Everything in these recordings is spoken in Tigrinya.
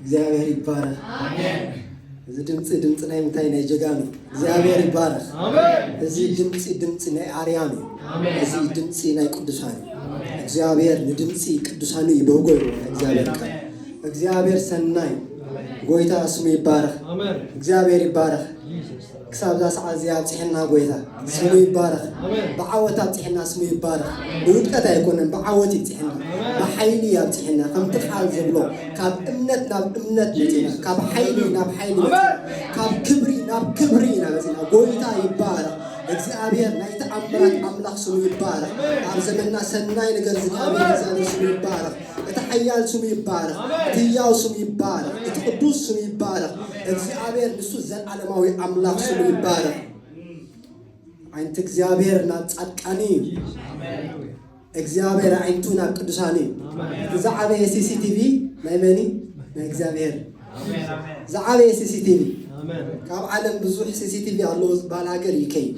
እግዚኣብሔር ይባረክ። እዚ ድምፂ ድምፂ ናይ ምንታይ ናይ ጀጋኑ እግዚኣብሔር ይባረክ። እዚ ድምፂ ድምፂ ናይ ኣርያም እዩ። እዚ ድምፂ ናይ ቅዱሳን እዩ። እግዚኣብሔር ንድምፂ ቅዱሳን እዩ ደውጎ ይብሎ ናይ እግዚኣብሔር ቃል። እግዚኣብሔር ሰናይ ጎይታ ስሙ ይባረክ። እግዚኣብሔር ይባረክ። ክሳብ እዛ ሰዓት እዚኣ ኣብፅሐና ጎይታ ስሙ ይባረኽ ብዓወት ኣብፅሐና ስሙ ይባረኽ ብውድቀት ኣይኮነን ብዓወት ይብፅሐና ብሓይሊ ኣብፅሐና ከምቲ ቃል ዝብሎ ካብ እምነት ናብ እምነት መፂና ካብ ሓይሊ ናብ ሓይሊ መፂና ካብ ክብሪ ናብ ክብሪ ኢና መፂና ጎይታ ይባረኽ እግዚኣብሔር ናይ ተኣምራት ኣምላኽ ስሙ ይባረኽ ኣብ ዘመንና ሰናይ ነገር ዝገበረ እግዚኣብሔር ስሙ ይባረኽ እቲ ሓያል ስሙ ይባረኽ፣ እቲ ህያው ስሙ ይባረኽ፣ እቲ ቅዱስ ስሙ ይባረኽ፣ እግዚኣብሔር ንሱ ዘለዓለማዊ ኣምላኽ ስሙ ይባረኽ። ዓይንቲ እግዚኣብሔር ናብ ጻድቃን እዩ። እግዚኣብሔር ዓይንቱ ናብ ቅዱሳን እዩ። እቲ ዝዓበየ ሲሲቲቪ ናይ መን እዩ? ናይ እግዚኣብሔር። ዝዓበየ ሲሲቲቪ ካብ ዓለም ብዙሕ ሲሲቲቪ ኣለዎ ዝበሃል ሃገር ዩኬ እዩ።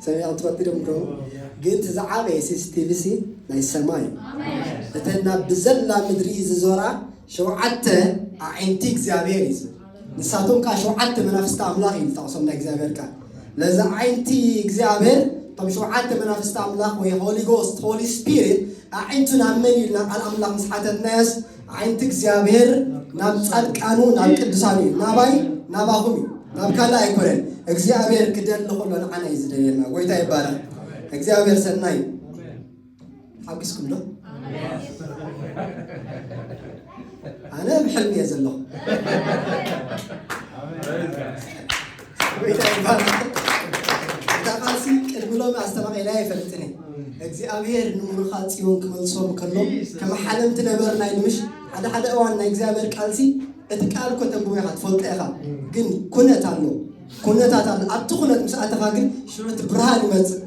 ሰሚዕኩም ትፈልጡ ዶ ምደው ግን እቲ ዝዓበየ ሲሲቲቪ ሲ ናይ ሰማይ እዩ እተን ናብ ብዘላ ምድሪ ዝዞራ ሸውዓተ ኣዒንቲ እግዚኣብሔር እዩ ዝብል ንሳቶም ከዓ ሸውዓተ መናፍስቲ ኣምላኽ እዩ ዝጠቕሶም ናይ እግዚኣብሔር ቃል ነዚ ኣዒንቲ እግዚኣብሔር እቶም ሸውዓተ መናፍስቲ ኣምላኽ ወይ ሆሊጎስት ሆሊ ስፒሪት ኣዒንቱ ናብ መን እዩ ኢልና ቃል ኣምላኽ ምስ ሓተትናዮስ ዓይንቲ እግዚኣብሔር ናብ ጻድቃኑ ናብ ቅዱሳኑ እዩ ናባይ ናባኹም እዩ ናብ ካልእ ኣይኮነን እግዚኣብሔር ክደሊ ከሎ ንዓና እዩ ዝደልየና ጎይታ ይባረክ እግዚኣብሔር ሰናይ እዩ ሓጒስኩም ዶ ኣነ ብሕልሚ እየ ዘለኹ ጎይታ ይባርክ። እታ ቃልሲ ቅድሚ ሎሚ ኣስተማቒላያ ኣይፈልጥን እየ። እግዚኣብሔር ንሙሉኻ ጽዮን ክመልሶም ከሎ ከም ሓለምቲ ነበርና ኢሉ ምሽ ሓደ ሓደ እዋን ናይ እግዚኣብሔር ቃልሲ እቲ ቃል እኮ ተንብቦ ኢኻ ትፈልጦ ኢኻ፣ ግን ኩነት ኣሎ ኩነታት ኣሎ። ኣብቲ ኩነት ምስ ኣተኻ ግን ሽዑ እቲ ብርሃን ይመጽእ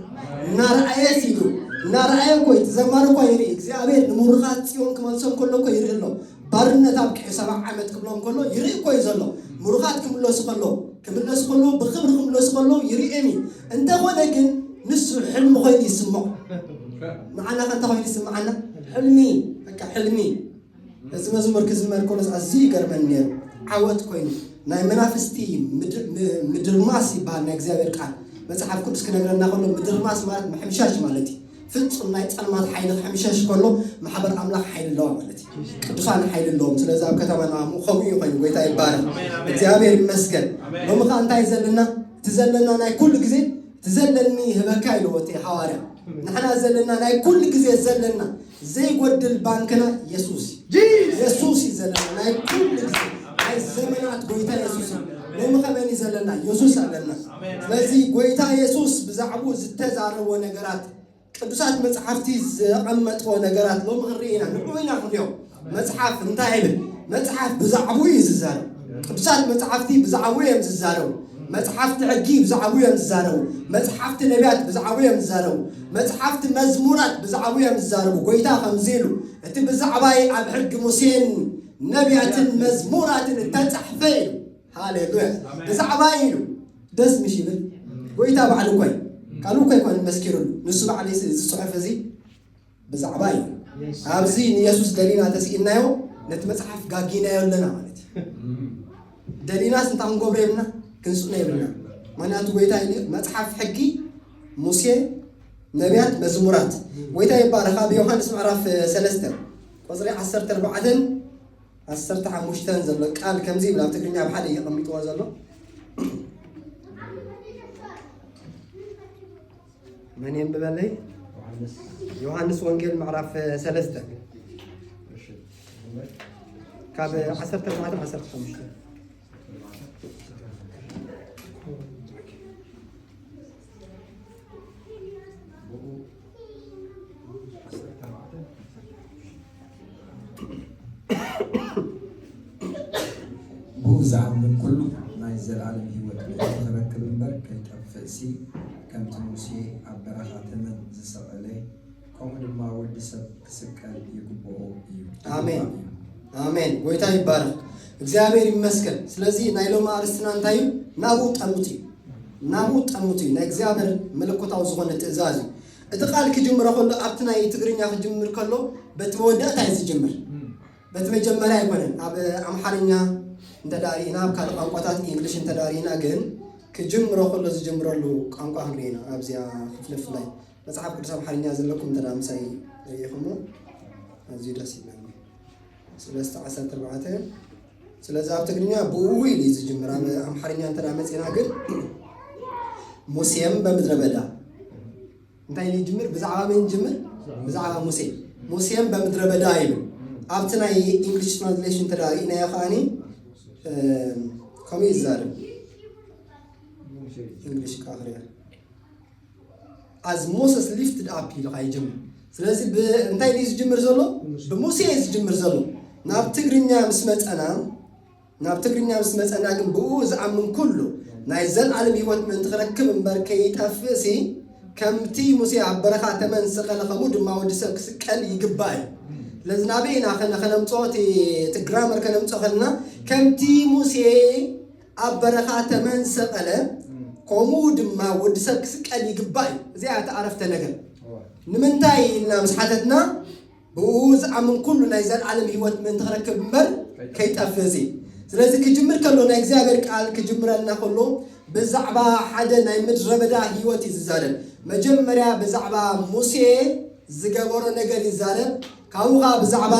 እናረኣየ ሲሉ እናረኣየ እኮ እዩ፣ እቲ ዘማሪ እኳ ይርኢ እግዚኣብሔር ንሙሉኻ ጽዮን ክመልሶም ከሎ እኮ ይርኢ ኣሎ ባርነት ኣብቂዑ ሰባ ዓመት ክብሎም ከሎ ይርኢ እኮ እዩ ዘሎ ምሩኻት ክምለሱ ከለው ክምለሱ ከለው ብኽብሪ ክምለሱ ከለው ይርኤም እዩ እንተኾነ ግን ንሱ ሕልሚ ኮይኑ ይስምዖ ንዓና ከ እንታይ ኮይኑ ይስምዓና ሕልሚ በቃ ሕልሚ እዚ መዝሙር ክዝመር ከሎስ ኣዝዩ ይገርመኒ ነይሩ ዓወት ኮይኑ ናይ መናፍስቲ ምድርማስ ይበሃል ናይ እግዚኣብሔር ቃል መፅሓፍ ቅዱስ ክነግረና ከሎ ምድርማስ ማለት ምሕምሻሽ ማለት እዩ ፍጹም ናይ ጸልማት ሓይሊ ክሕምሸሽ ከሎ ማሕበር ኣምላኽ ሓይሊ ኣለዋ ማለት እዩ። ቅዱሳን ሓይሊ ኣለዎም። ስለዚ ኣብ ከተማና ኣሞ ከምኡ እዩ ኮይኑ። ጎይታ ይባረኽ። እግዚኣብሔር ይመስገን። ሎሚ ከ እንታይ ዘለና እቲ ዘለና ናይ ኩሉ ግዜ እቲ ዘለኒ ህበካ ኢልዎ እቲ ሃዋርያ ንሕና ዘለና ናይ ኩሉ ግዜ ዘለና ዘይጎድል ባንክና የሱስ የሱስ እዩ ዘለና ናይ ኩሉ ግዜ ናይ ዘመናት ጎይታ የሱስ እዩ። ሎሚ ከመን እዩ ዘለና የሱስ ኣለና። ስለዚ ጎይታ የሱስ ብዛዕብኡ ዝተዛረቦ ነገራት ቅዱሳት መጽሓፍቲ ዘቐመጥዎ ነገራት ሎሚ ክንርኢ ኢና ንዑ ኢና ክንሪኦ መጽሓፍ እንታይ ይብል መጽሓፍ ብዛዕብኡ እዩ ዝዛረብ ቅዱሳት መጽሓፍቲ ብዛዕብኡ እዮም ዝዛረቡ መጽሓፍቲ ሕጊ ብዛዕብኡ እዮም ዝዛረቡ መጽሓፍቲ ነቢያት ብዛዕብኡ እዮም ዝዛረቡ መጽሓፍቲ መዝሙራት ብዛዕብኡ እዮም ዝዛረቡ ጎይታ ከምዚ ኢሉ እቲ ብዛዕባይ ኣብ ሕጊ ሙሴን ነቢያትን መዝሙራትን እተጻሕፈ እዩ ሃሌሉያ ብዛዕባ ኢሉ ደስ ምስ ይብል ጎይታ ባዕሉ እኳ እዩ ካልእ እኳ ኣይኮነን መስኪሩሉ ንሱ ባዕሉ እዩ እዚ ጽሑፍ እዚ ብዛዕባ እዩ ኣብዚ ንየሱስ ደሊና ተስኢናዮ ነቲ መጽሓፍ ጋጊናዮ ኣለና ማለት እዩ ደሊናስ እንታይ ክንገብሮ የብልና ክንስእኖ የብልና ምክንያቱ ጎይታ ኢሉ መጽሓፍ ሕጊ ሙሴ ነቢያት መዝሙራት ጎይታ ይባረኽ ኣብ ዮሃንስ ምዕራፍ ሰለስተ ቁፅሪ ዓሰርተ ኣርባዕተን ዓሰርተ ሓሙሽተ ዘሎ ቃል ከምዚ ይብል ኣብ ትግርኛ ኣብ ሓደ እዩ ኣቐሚጥዎ ዘሎ መን የንብበለይ ዮሃንስ ወንጌል ምዕራፍ ሰለስተ ካብ ዓሰርተ ኣርባዕተ ዓሰርተ ሓሙሽተ ዝኣምን ኩሉ ናይ ዘለኣለም ህይወት ዝረክብ እምበር ከይጠፍእሲ ከምቲ ሙሴ ኣብ በረኻ ተመን ዝሰቐለ ከምኡ ድማ ወዲ ሰብ ክስቀል ይግብኦ እዩ። ኣሜን ኣሜን። ጎይታ ይባረክ፣ እግዚኣብሔር ይመስገን። ስለዚ ናይ ሎሚ ኣርስትና እንታይ እዩ? ናብኡ ጠምት እዩ፣ ናብኡ ጠምት እዩ። ናይ እግዚኣብሔር መለኮታዊ ዝኾነ ትእዛዝ እዩ። እቲ ቃል ክጅምሮ ከሎ ኣብቲ ናይ ትግርኛ ክጅምር ከሎ በቲ መወዳእታ እዩ ዝጅምር፣ በቲ መጀመርያ ኣይኮነን። ኣብ ኣምሓርኛ እንተዳሪእና ኣብ ካልእ ቋንቋታት እንግሊሽ እንተዳሪእና ግን ክጅምሮ ከሎ ዝጅምረሉ ቋንቋ ክንሪኢና ኣብዚኣ ክፍልፍላይ መጽሓፍ ቅዱስ ኣምሓርኛ ዘለኩም እንተ ምሳይ ረኢኹሞ ኣዝዩ ደስ ይብለኒ ስለስተ ዓሰርተ ኣርባዕተ ስለዚ ኣብ ትግርኛ ብኡ ኢሉ እዩ ዝጅምር ኣብ ኣምሓርኛ እንተ መፅና ግን ሙሴም በምድረ በዳ እንታይ ኢሉ ይጅምር ብዛዕባ መን ጅምር ብዛዕባ ሙሴ ሙሴም በምድረ በዳ ኢሉ ኣብቲ ናይ ኢንግሊሽ ትራንስሌሽን እንተ ኢናዮ ከዓኒ ከምኡ ይዛርብ ኢንግሊሽ ካፍርያ ኣዝ ሞሰስ ሊፍትድ ኣፕ ኢሉ ኸዓ ይጅምር ስለዚ እንታይ ድዩ ዝጅምር ዘሎ ብሙሴ እዩ ዝጅምር ዘሎ ናብ ትግርኛ ምስ መፀና ናብ ትግርኛ ምስ መፀና ግን ብኡ ዝኣምን ኩሉ ናይ ዘለዓለም ህይወት ምእንቲ ክረክብ እምበር ከይጠፍእ ሲ ከምቲ ሙሴ ኣብ በረኻ ተመን ዝሰቀለ ከምኡ ድማ ወዲ ሰብ ክስቀል ይግባእ እዩ ስለዚ ናበይና ከነ ከነምፅኦ እቲ ግራመር ከነምፅኦ ከለና ከምቲ ሙሴ ኣብ በረኻ ተመን ሰቀለ ኮሙኡ ድማ ወዲ ሰብ ክስቀል ይግባእ እዩ እዚኣ እቲ ኣረፍተ ነገር ንምንታይ ኢልና ምስ ሓተትና ብኡ ዝኣምን ኩሉ ናይ ዘልዓለም ህይወት ምእንቲ ክረክብ እምበር ከይጠፍእ እዚ ስለዚ ክጅምር ከሎ ናይ እግዚኣብሔር ቃል ክጅምረልና ከሎ ብዛዕባ ሓደ ናይ ምድረ በዳ ህይወት እዩ ዝዛረብ መጀመርያ ብዛዕባ ሙሴ ዝገበሮ ነገር ይዛረብ ካብኡ ከኣ ብዛዕባ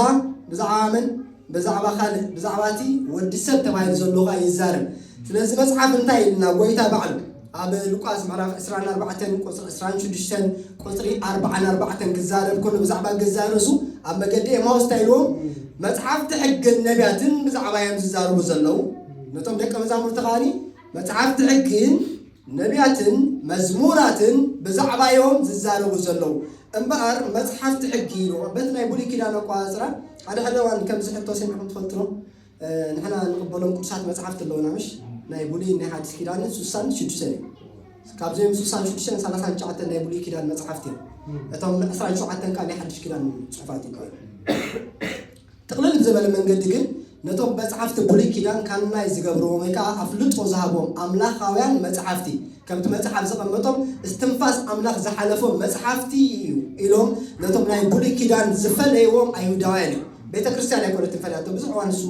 ብዛዕባመን ብዛዕባ ካልእ ብዛዕባ እቲ ወዲ ሰብ ተባሂሉ ዘሎ ከኣ ይዛረብ ስለዚ መጽሓፍ እንታይ ኢልና ጎይታ ባዕሉ ኣብ ሉቃስ ምዕራፍ ዕስራን ኣርባዕተን ቁጽሪ ዕስራን ሽዱሽተን ቁጽሪ ኣርባዓን ኣርባዕተን ክዛረብ ከሎ ብዛዕባ ገዛእ ርእሱ ኣብ መገዲ ኤማውስ እንታይ ኢልዎም መጽሓፍቲ ሕግን ነቢያትን ብዛዕባ እዮም ዝዛረቡ ዘለዉ ነቶም ደቀ መዛሙርቲ ከኣ መጽሓፍቲ ሕግን ነብያትን መዝሙራትን ብዛዕባ እዮም ዝዛረቡ ዘለዉ እምበኣር መጽሓፍቲ ሕጊ በቲ ናይ ብሉይ ኪዳን ኣቆጻጽራ ሓደ ሓደ እዋን ከምዚ ሕቶ ሰሚዕኩም ትፈልጡ ዶ ንሕና ንቕበሎም ቅዱሳት መጽሓፍቲ ኣለውና ምሽ ናይ ብሉይ ናይ ሓዲስ ኪዳንን ስሳን ሽዱሽተን እዩ ካብዚኦም ስሳን ሽዱሽተን ሰላሳን ትሽዓተን ናይ ብሉይ ኪዳን መጽሓፍቲ እዮም እቶም ዕስራን ሸውዓተን ከዓ ናይ ሓድሽ ኪዳን ጽሑፋት ይከኣሉ ጥቕልል ብዘበለ መንገዲ ግን ነቶም መጽሓፍቲ ብሉይ ኪዳን ካናይ ዝገብርዎም ወይ ከኣ ኣፍልጦ ዝሃቦም ኣምላኻውያን መጽሓፍቲ ከምቲ መጽሓፍ ዘቐመጦም እስትንፋስ ኣምላኽ ዝሓለፎም መጽሓፍቲ እዩ ኢሎም ነቶም ናይ ብሉይ ኪዳን ዝፈለይዎም ኣይሁዳውያን እዮም ቤተ ክርስቲያን ኣይኮነትን ፈላቶ ብዙሕ እዋን እሱ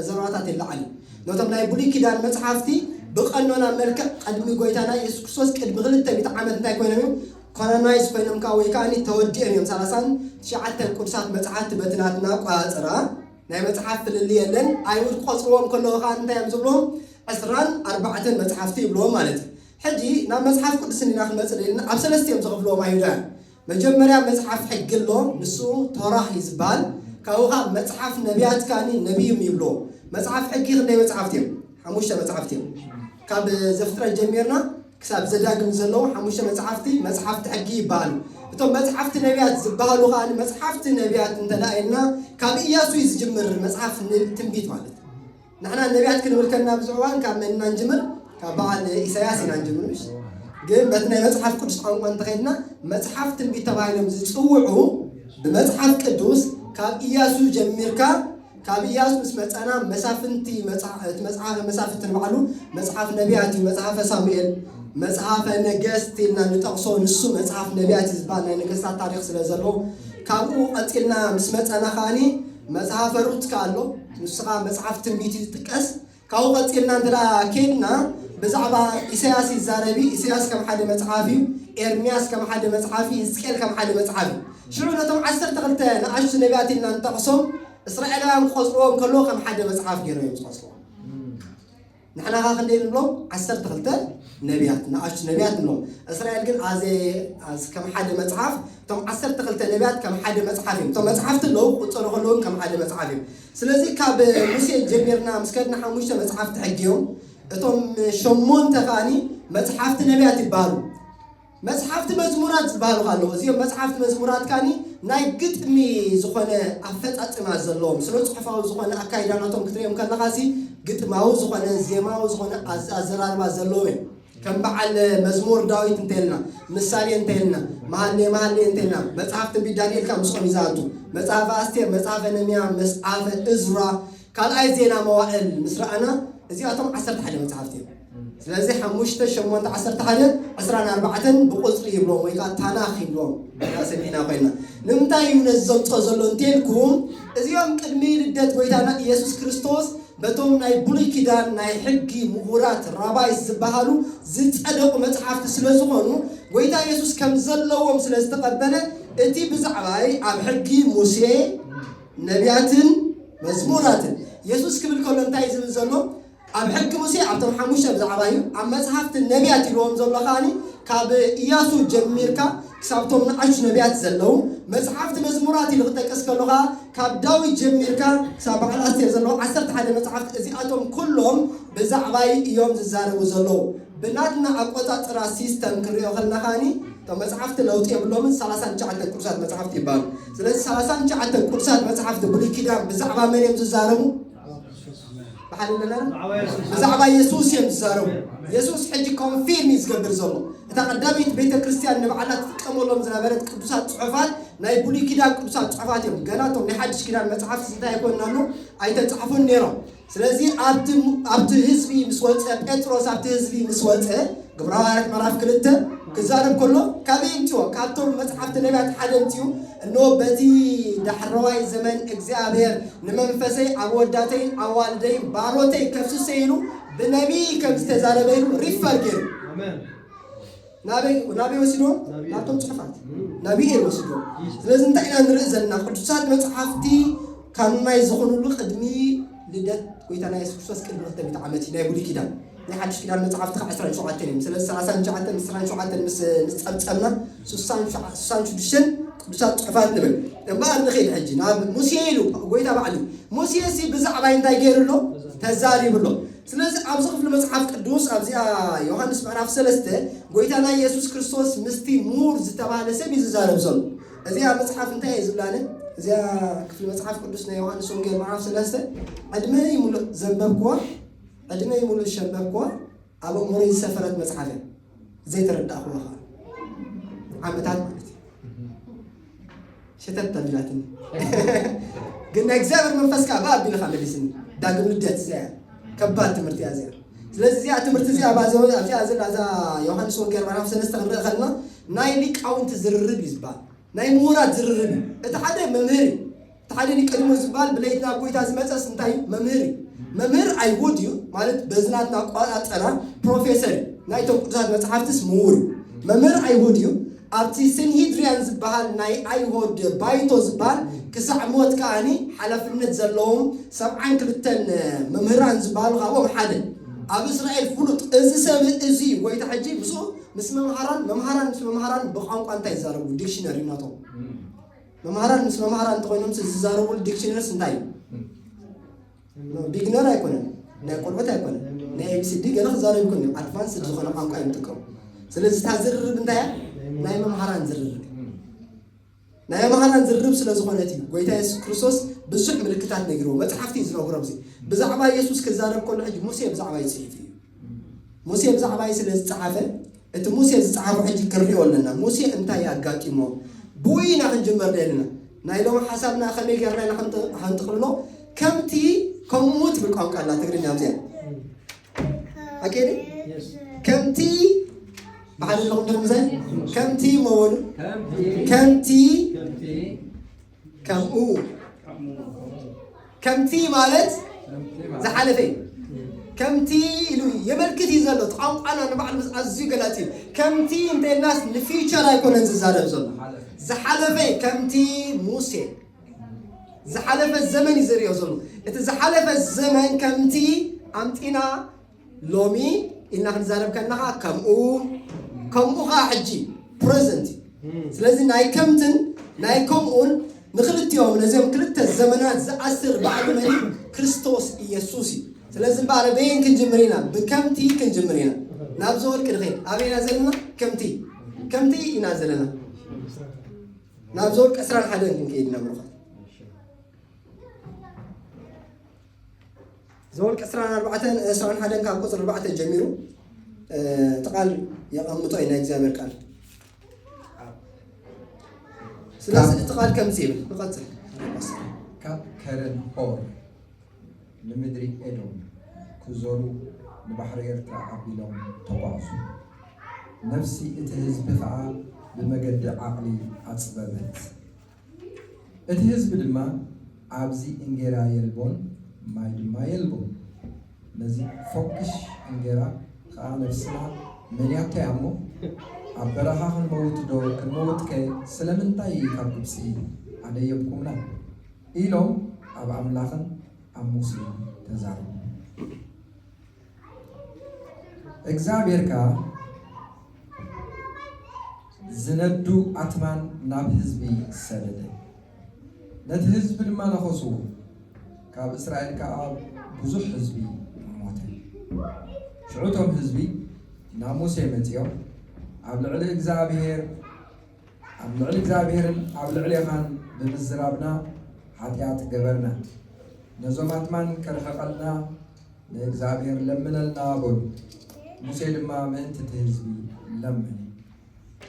ዘረባታት ይለዓል ነቶም ናይ ብሉይ ኪዳን መጽሓፍቲ ብቀኖና መልክዕ ቅድሚ ጎይታና ኢየሱስ ክርስቶስ ቅድሚ ክልተ ሚእቲ ዓመት እንታይ ኮይኖም እዮም ካናናይዝ ኮይኖም ከኣ ወይ ከኣ ተወዲኦም እዮም ሰላሳን ትሽዓተን ቅዱሳት መጽሓፍቲ በቲ ናትና ኣቆጻጽራ ናይ መጽሓፍ ፍልልይ የለን ኣይሁድ ክቆጽርዎም ከለዉ ከኣ እንታይ እዮም ዝብሉዎም ዕስራን ኣርባዕተን መጽሓፍቲ ይብሉዎም ማለት እዩ ሕጂ ናብ መጽሓፍ ቅዱስ እንዲና ክንመጽእ ደሊና ኣብ ሰለስተ እዮም ዝኸፍሉዎም ኣይሁዳውያን መጀመርያ መጽሓፍ ሕጊ ኣሎ ንሱ ቶራህ እዩ ዝበሃል ካብኡ ከኣ መጽሓፍ ነብያት ከኣኒ ነብዩም ይብሉዎ መጽሓፍ ሕጊ ክንደይ መጽሓፍቲ እዮም ሓሙሽተ መጽሓፍቲ እዮም ካብ ዘፍጥረት ጀሚርና ክሳብ ዘዳግም ዘለዉ ሓሙሽተ መጽሓፍቲ፣ መጽሓፍቲ ሕጊ ይበሃሉ። እቶም መጽሓፍቲ ነብያት ዝበሃሉ ከኣ መጽሓፍቲ ነብያት እንተ ደኣ ኢልና ካብ እያሱ እዩ ዝጅምር መጽሓፍ ትንቢት ማለት። ንሕና ነብያት ክንብል ከለና ብዙሕ እዋን ካብ መን ኢና ንጅምር? ካብ በዓል ኢሳያስ ኢና ንጅምር ምሽ ግን በቲ ናይ መጽሓፍ ቅዱስ ቋንቋ እንተኸድና መጽሓፍ ትንቢት ተባሂሎም ዝጽውዑ ብመጽሓፍ ቅዱስ ካብ እያሱ ጀሚርካ ካብ ኢያሱ ምስ መጸና መሳፍንቲ መጽሓ እቲ መጽሓፈ መሳፍንቲ ንባዕሉ መጽሓፍ ነቢያት እዩ መጽሓፈ ሳሙኤል መጽሓፈ ነገስት ኢልና ንጠቕሶ ንሱ መጽሓፍ ነቢያት እዩ ዝበሃል ናይ ነገስታት ታሪኽ ስለ ዘለዎ ካብኡ ቀጺልና ምስ መጸና ከኣኒ መጽሓፈ ሩት ከኣ ኣሎ ንሱ ከኣ መጽሓፍ ትንቢት እዩ ዝጥቀስ ካብኡ ቀጺልና እንተ ኬድና ብዛዕባ ኢሳያስ ይዛረብ እዩ። ኢሳያስ ከም ሓደ መጽሓፍ እዩ። ኤርምያስ ከም ሓደ መጽሓፍ እዩ። ህዝቅኤል ከም ሓደ መጽሓፍ እዩ። ሽዑ ነቶም ዓሰርተ ክልተ ንኣሽቱ ነቢያት ኢልና ንጠቕሶም እስራኤላውያን ክቆጽርዎም ከለዉ ከም ሓደ መጽሓፍ ገይሮም እዮም ዝቆጽርዎ። ንሕና ኸ ክንደይ ንብሎም? ዓሰርተ ክልተ ነቢያት ንኣሽቱ ነቢያት ንብሎም። እስራኤል ግን ኣዘ ከም ሓደ መጽሓፍ እቶም ዓሰርተ ክልተ ነቢያት ከም ሓደ መጽሓፍ እዮም። እቶም መጽሓፍቲ ኣለዉ ክቁጸሩ ከለዉ ከም ሓደ መጽሓፍ እዮም። ስለዚ ካብ ሙሴ ጀሚርና ምስ ከድና ሓሙሽተ መጽሓፍቲ ሕጊ እዮም። እቶም ሸሞንተ ከኣኒ መጽሓፍቲ ነቢያት ይበሃሉ። መጽሓፍቲ መዝሙራት ዝበሃሉ ካለኹ እዚኦም መጽሓፍቲ መዝሙራት ከኣኒ ናይ ግጥሚ ዝኾነ ኣፈጻጽማ ዘለዎም ስነ ጽሑፋዊ ዝኾነ ኣካይዳናቶም ክትሪኦም ከለኻሲ ግጥማዊ ዝኾነ ዜማዊ ዝኾነ ኣዘራርባ ዘለዎም እዮም። ከም በዓል መዝሙር ዳዊት እንተልና፣ ምሳሌ እንተልና፣ መሃሌ መሃሌ እንተልና፣ መጽሓፍ ትንቢት ዳንኤል ከኣ ምስኦም እዩ ዝኣቱ። መጽሐፈ ኣስቴር፣ መጽሐፈ ነምያ፣ መጽሐፈ እዝራ፣ ካልኣይ ዜና መዋእል ምስ ረኣና እዚኣቶም ዓሰርተ ሓደ መጽሓፍቲ እዮም። ስለዚ ሓሙሽተ ሸሞንተ ዓሰርተ ሓደ ዕስራን ኣርባዕተን ብቁፅሪ ይብሎም ወይ ከዓ ታናኽ ይብሎም ሰሚዕና ኮይና ንምንታይ እዩ ነዚ ዘምፅኦ ዘሎ እንተልኩም እዚኦም ቅድሚ ልደት ጎይታና ኢየሱስ ክርስቶስ ነቶም ናይ ብሉይ ኪዳን ናይ ሕጊ ምሁራት፣ ራባይስ፣ ዝበሃሉ ዝጸደቑ መጽሓፍቲ ስለ ዝኾኑ ጎይታ የሱስ ከም ዘለዎም ስለ ዝተቐበለ እቲ ብዛዕባይ ኣብ ሕጊ ሙሴ ነብያትን መዝሙራትን የሱስ ክብል ከሎ እንታይ እዩ ዝብል ዘሎ ኣብ ሕጊ ሙሴ ኣብቶም ሓሙሽተ ብዛዕባ እዩ ኣብ መጽሓፍቲ ነብያት ኢልዎም ዘሎ ከኣ ካብ ኢያሱ ጀሚርካ ክሳብ'ቶም ንኣሽቱ ነብያት ዘለዉ መጽሓፍቲ መዝሙራት ኢሉ ክጠቅስ ከሎ ከኣ ካብ ዳዊት ጀሚርካ ክሳብ በዓል ኣስቴር ዘለዉ ዓሰርተ ሓደ መጽሓፍቲ እዚኣቶም ኩሎም ብዛዕባይ እዮም ዝዛረቡ ዘለዉ ብናትና ኣቆጻጽራ ሲስተም ክንሪኦ ከለና ከኣ እቶም መጽሓፍቲ ለውጢ የብሎምን ሰላሳን ትሽዓተን ቅዱሳት መጽሓፍቲ ይበሃሉ ስለዚ ሰላሳን ትሽዓተን ቅዱሳት መጽሓፍቲ ብሉይ ኪዳን ብዛዕባ መን እዮም ዝዛረቡ ብሓደ ንረር ብዛዕባ የሱስ እዮም ዝዛረቡ የሱስ ሕጂ ኮንፊርም እዩ ዝገብር ዘሎ እታ ቀዳመይቲ ቤተ ክርስቲያን ንባዕላ ትጥቀመሎም ዝነበረት ቅዱሳት ፅሑፋት ናይ ብሉይ ኪዳን ቅዱሳት ፅሑፋት እዮም ገና እቶም ናይ ሓድሽ ኪዳን መፅሓፍ ስንታይ ኣይኮን ኣሎ ኣይተፃሕፉን ነይሮም ስለዚ ኣብቲ ህዝቢ ምስ ወፀ ጴጥሮስ ኣብቲ ህዝቢ ምስ ወፀ ግብረ ሃዋርያት ምዕራፍ ክልተ ክዛረብ ከሎ ካበይ እምፅኦ ካብቶም መፅሓፍቲ ነቢያት ሓደ እምፅኡ እንሆ በቲ ዳሕረዋይ ዘመን እግዚኣብሔር ንመንፈሰይ ኣብ ወዳተይ ኣዋልደይ ባሮተይ ከፍስሰ ኢሉ ብነቢይ ከም ዝተዛረበ ኢሉ ሪፈር ገይሩ ናበይ ወሲዶ ናብቶም ፅሑፋት ናብይ እዩ ወሲዶ ስለዚ እንታይ ኢና ንርኢ ዘለና ቅዱሳት መፅሓፍቲ ካብ ናይ ዝኾኑሉ ቅድሚ ልደት ጎይታና የሱስ ክርስቶስ ቅድሚ ክተሚት ዓመት እዩ ናይ ብሉይ ኪዳን ናይ ሓድሽ ኪዳን መጻሕፍቲ ከኣ ዕስራን ሸውዓተን እዮም። ስለዚ ሰላሳን ትሽዓተን ዕስራን ሸውዓተን ምስ ጸብጸብና ስሳን ሽዱሽተን ቅዱሳት ጽሑፋት ንብል። እምበኣር ንኺድ ሕጂ ናብ ሙሴ ኢሉ ጎይታ ባዕሉ። ሙሴሲ ብዛዕባይ እንታይ ገይሩ ኣሎ? ተዛሪቡ ኣሎ። ስለዚ ኣብዚ ክፍሊ መጽሓፍ ቅዱስ ኣብዚኣ ዮሃንስ ምዕራፍ ሰለስተ ጎይታና ኢየሱስ ክርስቶስ ምስቲ ምሁር ዝተባህለ ሰብ እዩ ዝዛረብ ዘሎ። እዚኣ መጽሓፍ እንታይ እየ ዝብላነ? እዚኣ ክፍሊ መጽሓፍ ቅዱስ ናይ ዮሃንስ ወንጌል ምዕራፍ ሰለስተ ዕድመይ ምሉእ ዘንበብኩዋ ዕድመይ ሙሉእ ዝሸበብክዋ ኣብ ኣእምሮይ ዝሰፈረት መጽሓፍ እያ። ዘይተረዳእክዋ ከኣ ዓመታት ማለት እዩ። ሸተት ኣቢላትኒ ግን ናይ እግዚኣብሔር መንፈስ ከዓ ብኣ ኣቢልኻ መሊስኒ ዳግም ልደት እዚኣ እያ ከባድ ትምህርቲ እያ እዚኣ ስለዚ እዚኣ ትምህርቲ እዚኣ ኣብዛ ዘ- ኣብዚኣ ዘላ እዛ ዮሃንስ ወንጌል ምዕራፍ ሰለስተ ክንርኢ ከለና ናይ ሊቃውንቲ ዝርርብ እዩ ዝበሃል ናይ ምሁራት ዝርርብ እዩ እቲ ሓደ መምህር እዩ እቲ ሓደ ኒቀዲሞስ ዝብሃል ብለይቲ ናብ ጎይታ ዝመጸስ እንታይ እዩ? መምህር እዩ። መምህር ኣይሁድ እዩ ማለት በዚ ናትና ኣቋ- ኣጠራር ፕሮፌሰር እዩ። ናይቶም ቅዱሳት መጽሓፍትስ ምሁር እዩ። መምህር ኣይሁድ እዩ። ኣብቲ ሰንሂድርያን ዝብሃል ናይ ኣይሆድ ባይቶ ዝብሃል ክሳዕ ሞት ከኣኒ ሓላፍነት ዘለዎም ሰብዓን ክልተን መምህራን ዝብሃሉ ካብኦም ሓደ። ኣብ እስራኤል ፍሉጥ። እዚ ሰብ እዚ እዩ ጎይታ ሕጂ ምስኡ ምስ መምሃራን መምሃራን ምስ መምሃራን ብቋንቋ እንታይ ይዛረቡ? ዲክሽነሪ ናቶም። መማህራን ምስ መማህራን እንተኾይኖም ዝዛረብሉ ዲክሽነርስ እንታይ እዩ ቢግነር ኣይኮነን ናይ ቆልዑት ኣይኮነን ናይ ኤቢሲዲ ገለ ክዛረብ ይኮን እዮም ኣድቫንስ ዝኾነ ቋንቋ እዮም ጥቀሙ ስለዚ እታ ዝርርብ እንታይ እያ ናይ መምሃራን ዝርርብ ናይ መምሃራን ዝርርብ ስለ ዝኾነት እዩ ጎይታ የሱስ ክርስቶስ ብዙሕ ምልክታት ነጊርዎ መፅሓፍቲ እዩ ዝነግሮ ብዚ ብዛዕባ የሱስ ክዛረብ ከሎ ሕጂ ሙሴ ብዛዕባ ይፅሒፍ እዩ ሙሴ ብዛዕባይ ስለ ዝጸሓፈ እቲ ሙሴ ዝጸሓፎ ሕጂ ክንሪኦ ኣለና ሙሴ እንታይ ኣጋጢሞ ብኡ ኢና ክንጅምር ደሊና ናይ ሎሚ ሓሳብና ከመይ ገርና ኢና ከንጥቅልሎ ከምቲ ከምኡ ትብል ቋንቋ ኣላ ትግርኛ ኣብዚኣ ኣኬዲ ከምቲ ብሓደ ኣለኹም ድርምዘ ከምቲ መበሉ ከምቲ ከምኡ ከምቲ ማለት ዝሓለፈ እዩ ከምቲ ኢሉ የመልክት እዩ ዘሎ እቲ ቋንቋና ንባዕሉ ኣዝዩ ገላፂ እዩ ከምቲ እንተይልናስ ንፊቸር ኣይኮነን ዝዛረብ ዘሎ ዝሓለፈ ከምቲ ሙሴ ዝሓለፈ ዘመን እዩ ዝሪኦ ዘሎ እቲ ዝሓለፈ ዘመን ከምቲ ኣምጢና ሎሚ ኢልና ክንዛረብ ከለኻ ከምኡ ከምኡ ከዓ ሕጂ ፕረዘንት እዩ ስለዚ ናይ ከምትን ናይ ከምኡን ንክልቲኦም ነዚኦም ክልተ ዘመናት ዝኣስር ባዕሉ መን እዩ ክርስቶስ ኢየሱስ እዩ ስለዚ እምበኣር በየን ክንጅምር ኢና ብከምቲ ክንጅምር ኢና ናብዚ ወርቂ ንኸይድ ኣበይ ኢና ዘለና ከምቲ ከምቲ ኢና ዘለና ናብዚ ወርቂ ዕስራን ሓደን ክንከይድ ኢና ብሩኻት ዘወልቂ ዕስራን ኣርባዕተን ዕስራን ሓደን ካብ ቁፅሪ ኣርባዕተ ጀሚሩ እቲ ቃል የቐምጦ እዩ ናይ እግዚኣብሔር ቃል ስለዚ እቲ ቃል ከምዚ ይብል ንቐፅል ካብ ከረን ሆር ንምድሪ ኤዶም ክዞሩ ንባሕሪ ኤርትራ ኣቢሎም ተጓዕዙ ነፍሲ እቲ ህዝቢ ከዓ ብመገዲ ዓቕሊ ኣፅበበት እቲ ህዝቢ ድማ ኣብዚ እንጌራ የልቦን ማይ ድማ የልቦን ነዚ ፎክሽ እንጌራ ከኣ ነብስና መንያቶ እያ እሞ ኣብ በረኻ ክንመውት ዶ ክንመውት ከ ስለምንታይ ካብ ግብጺ ኣደየብኩምና ኢሎም ኣብ ኣምላኽን ኣብ ሙሴን ተዛረቡ። እግዚኣብሔር ከኣ ዝነዱ ኣትማን ናብ ህዝቢ ሰደደ ነቲ ህዝቢ ድማ ነኸስዎ ካብ እስራኤል ከዓ ብዙሕ ህዝቢ ሞተ ሽዑቶም ህዝቢ ናብ ሙሴ መፂኦም ኣብ ልዕሊ እግዚኣብሔር ኣብ ልዕሊ እግዚኣብሔርን ኣብ ልዕሌኻን ብምዝራብና ሓጢኣት ገበርና። ነዞም ኣትማን ከርሕቐልና ንእግዚኣብሔር ለምነልና በሉ። ሙሴ ድማ ምእንቲ እቲ ህዝቢ ለመነ።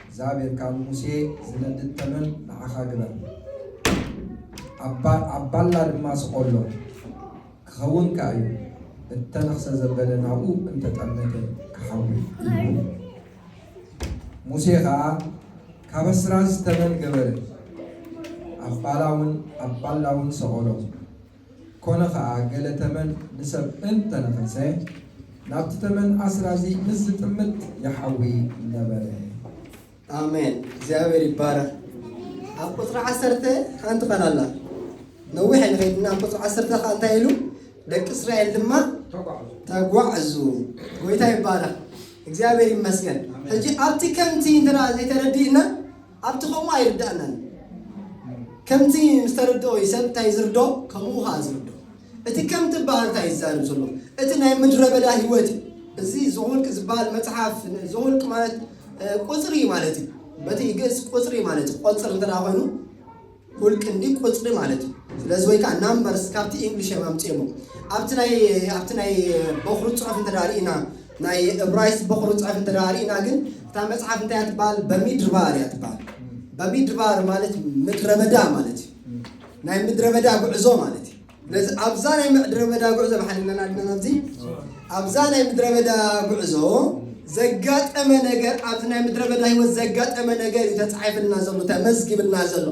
እግዚኣብሔር ከዓ ንሙሴ ዝነድድ ተመን ንዓኻ ግበር፣ ኣብ ባላ ድማ ስቆሎ፣ ክኸውን ከዓ እዩ፣ እተነኽሰ ዘበለ ናብኡ እንተጠመተ ክሓዊ እዩ። ሙሴ ኸኣ ካብ ኣስራዚ ተመን ገበረ፣ ኣብ ባላውን ኣብ ባላውን ሰቐሎ። ኰነ ኸኣ፣ ገለ ተመን ንሰብ እንተ ነኸሰ፣ ናብቲ ተመን ኣስራዚ ምስ ዚጥምት ይሓዊ ነበረ። ኣሜን እግዚኣብሔር ይባረክ ኣብ ቁፅሪ ዓሰርተ ሓንቲ ቃል ኣላ ነዊሕ ንኸይድና ኣብ ቁፅሪ ዓሰርተ ከዓ እንታይ ኢሉ ደቂ እስራኤል ድማ ተጓዕዙ ጎይታ ይባረክ እግዚኣብሔር ይመስገን ሕጂ ኣብቲ ከምቲ እንተ ዘይተረዲእና ኣብቲ ከምኡ ኣይርዳእናን ከምቲ ምስ ተረድኦ እዩ ሰብ እንታይ ዝርዶ ከምኡ ኸዓ ዝርዶ እቲ ከም ትበሃል እንታይ ይዛርብ ዘሎ እቲ ናይ ምድረ በዳ ህይወት እዩ እዚ ዘውልቅ ዝበሃል መጽሓፍ ዘውልቅ ማለት ቁጽሪ ማለት እዩ በቲ ግእዝ ቁጽሪ ማለት እዩ ቆጽር እንተ ኮይኑ ቁል ክንዲ ቁጽሪ ማለት እዩ ስለዚ ወይ ከዓ ናምበርስ ካብቲ ኢንግሊሽ እዮም ኣምፂኦሞ ኣብቲ ናይ ኣብቲ ናይ በኹሪ ፅሑፍ እንተ ርኢና ናይ እብራይስ በኹሪ ፅሑፍ እንተ ርኢና ግን እታ መፅሓፍ እንታይ እያ ትበሃል በሚድርባር እያ ትበሃል በሚድርባር ማለት ምድረ በዳ ማለት እዩ ናይ ምድረ በዳ ጉዕዞ ማለት እዩ ነዚ ኣብዛ ናይ ምድረ በዳ ጉዕዞ ብሓድነና ኣለና ኣብዚ ኣብዛ ናይ ምድረ በዳ ጉዕዞ ዘጋጠመ ነገር ኣብዚ ናይ ምድረ በዳ ህይወት ዘጋጠመ ነገር እዩ ተፃሒፍልና ዘሎ ተመዝጊብልና ዘሎ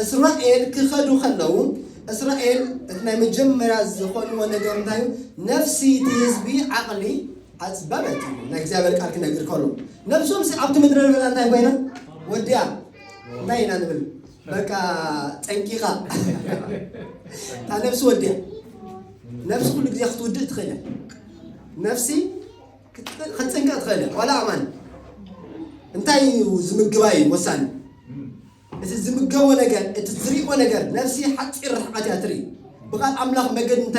እስራኤል ክኸዱ ከለዉ እስራኤል እቲ ናይ መጀመርያ ዝኾንዎ ነገር እንታይ እዩ ነፍሲ እቲ ህዝቢ ዓቕሊ ኣፅበበት እዩ ናይ እግዚኣብሔር ቃል ክነግር ከሎ ነብሶም ኣብቲ ምድረ በዳ እንታይ ኮይና ወዲያ እንታይ ኢና ንብል በቃ ጠንቂቃ እታ ነብሲ ወዲያ ነብሲ ኩሉ ግዜ ክትውድእ ትኽእል እያ ነብሲ ክት- ክትፅንቀቅ ትኽእል እያ ዋላ ኣማን እንታይ እዩ ዝምግባ እዩ ወሳኒ እቲ ዝምገቦ ነገር እቲ ዝሪኦ ነገር ነብሲ ሓፂር ርሕቀት እያ ትርኢ ብቃል ኣምላኽ መገዲ እንተ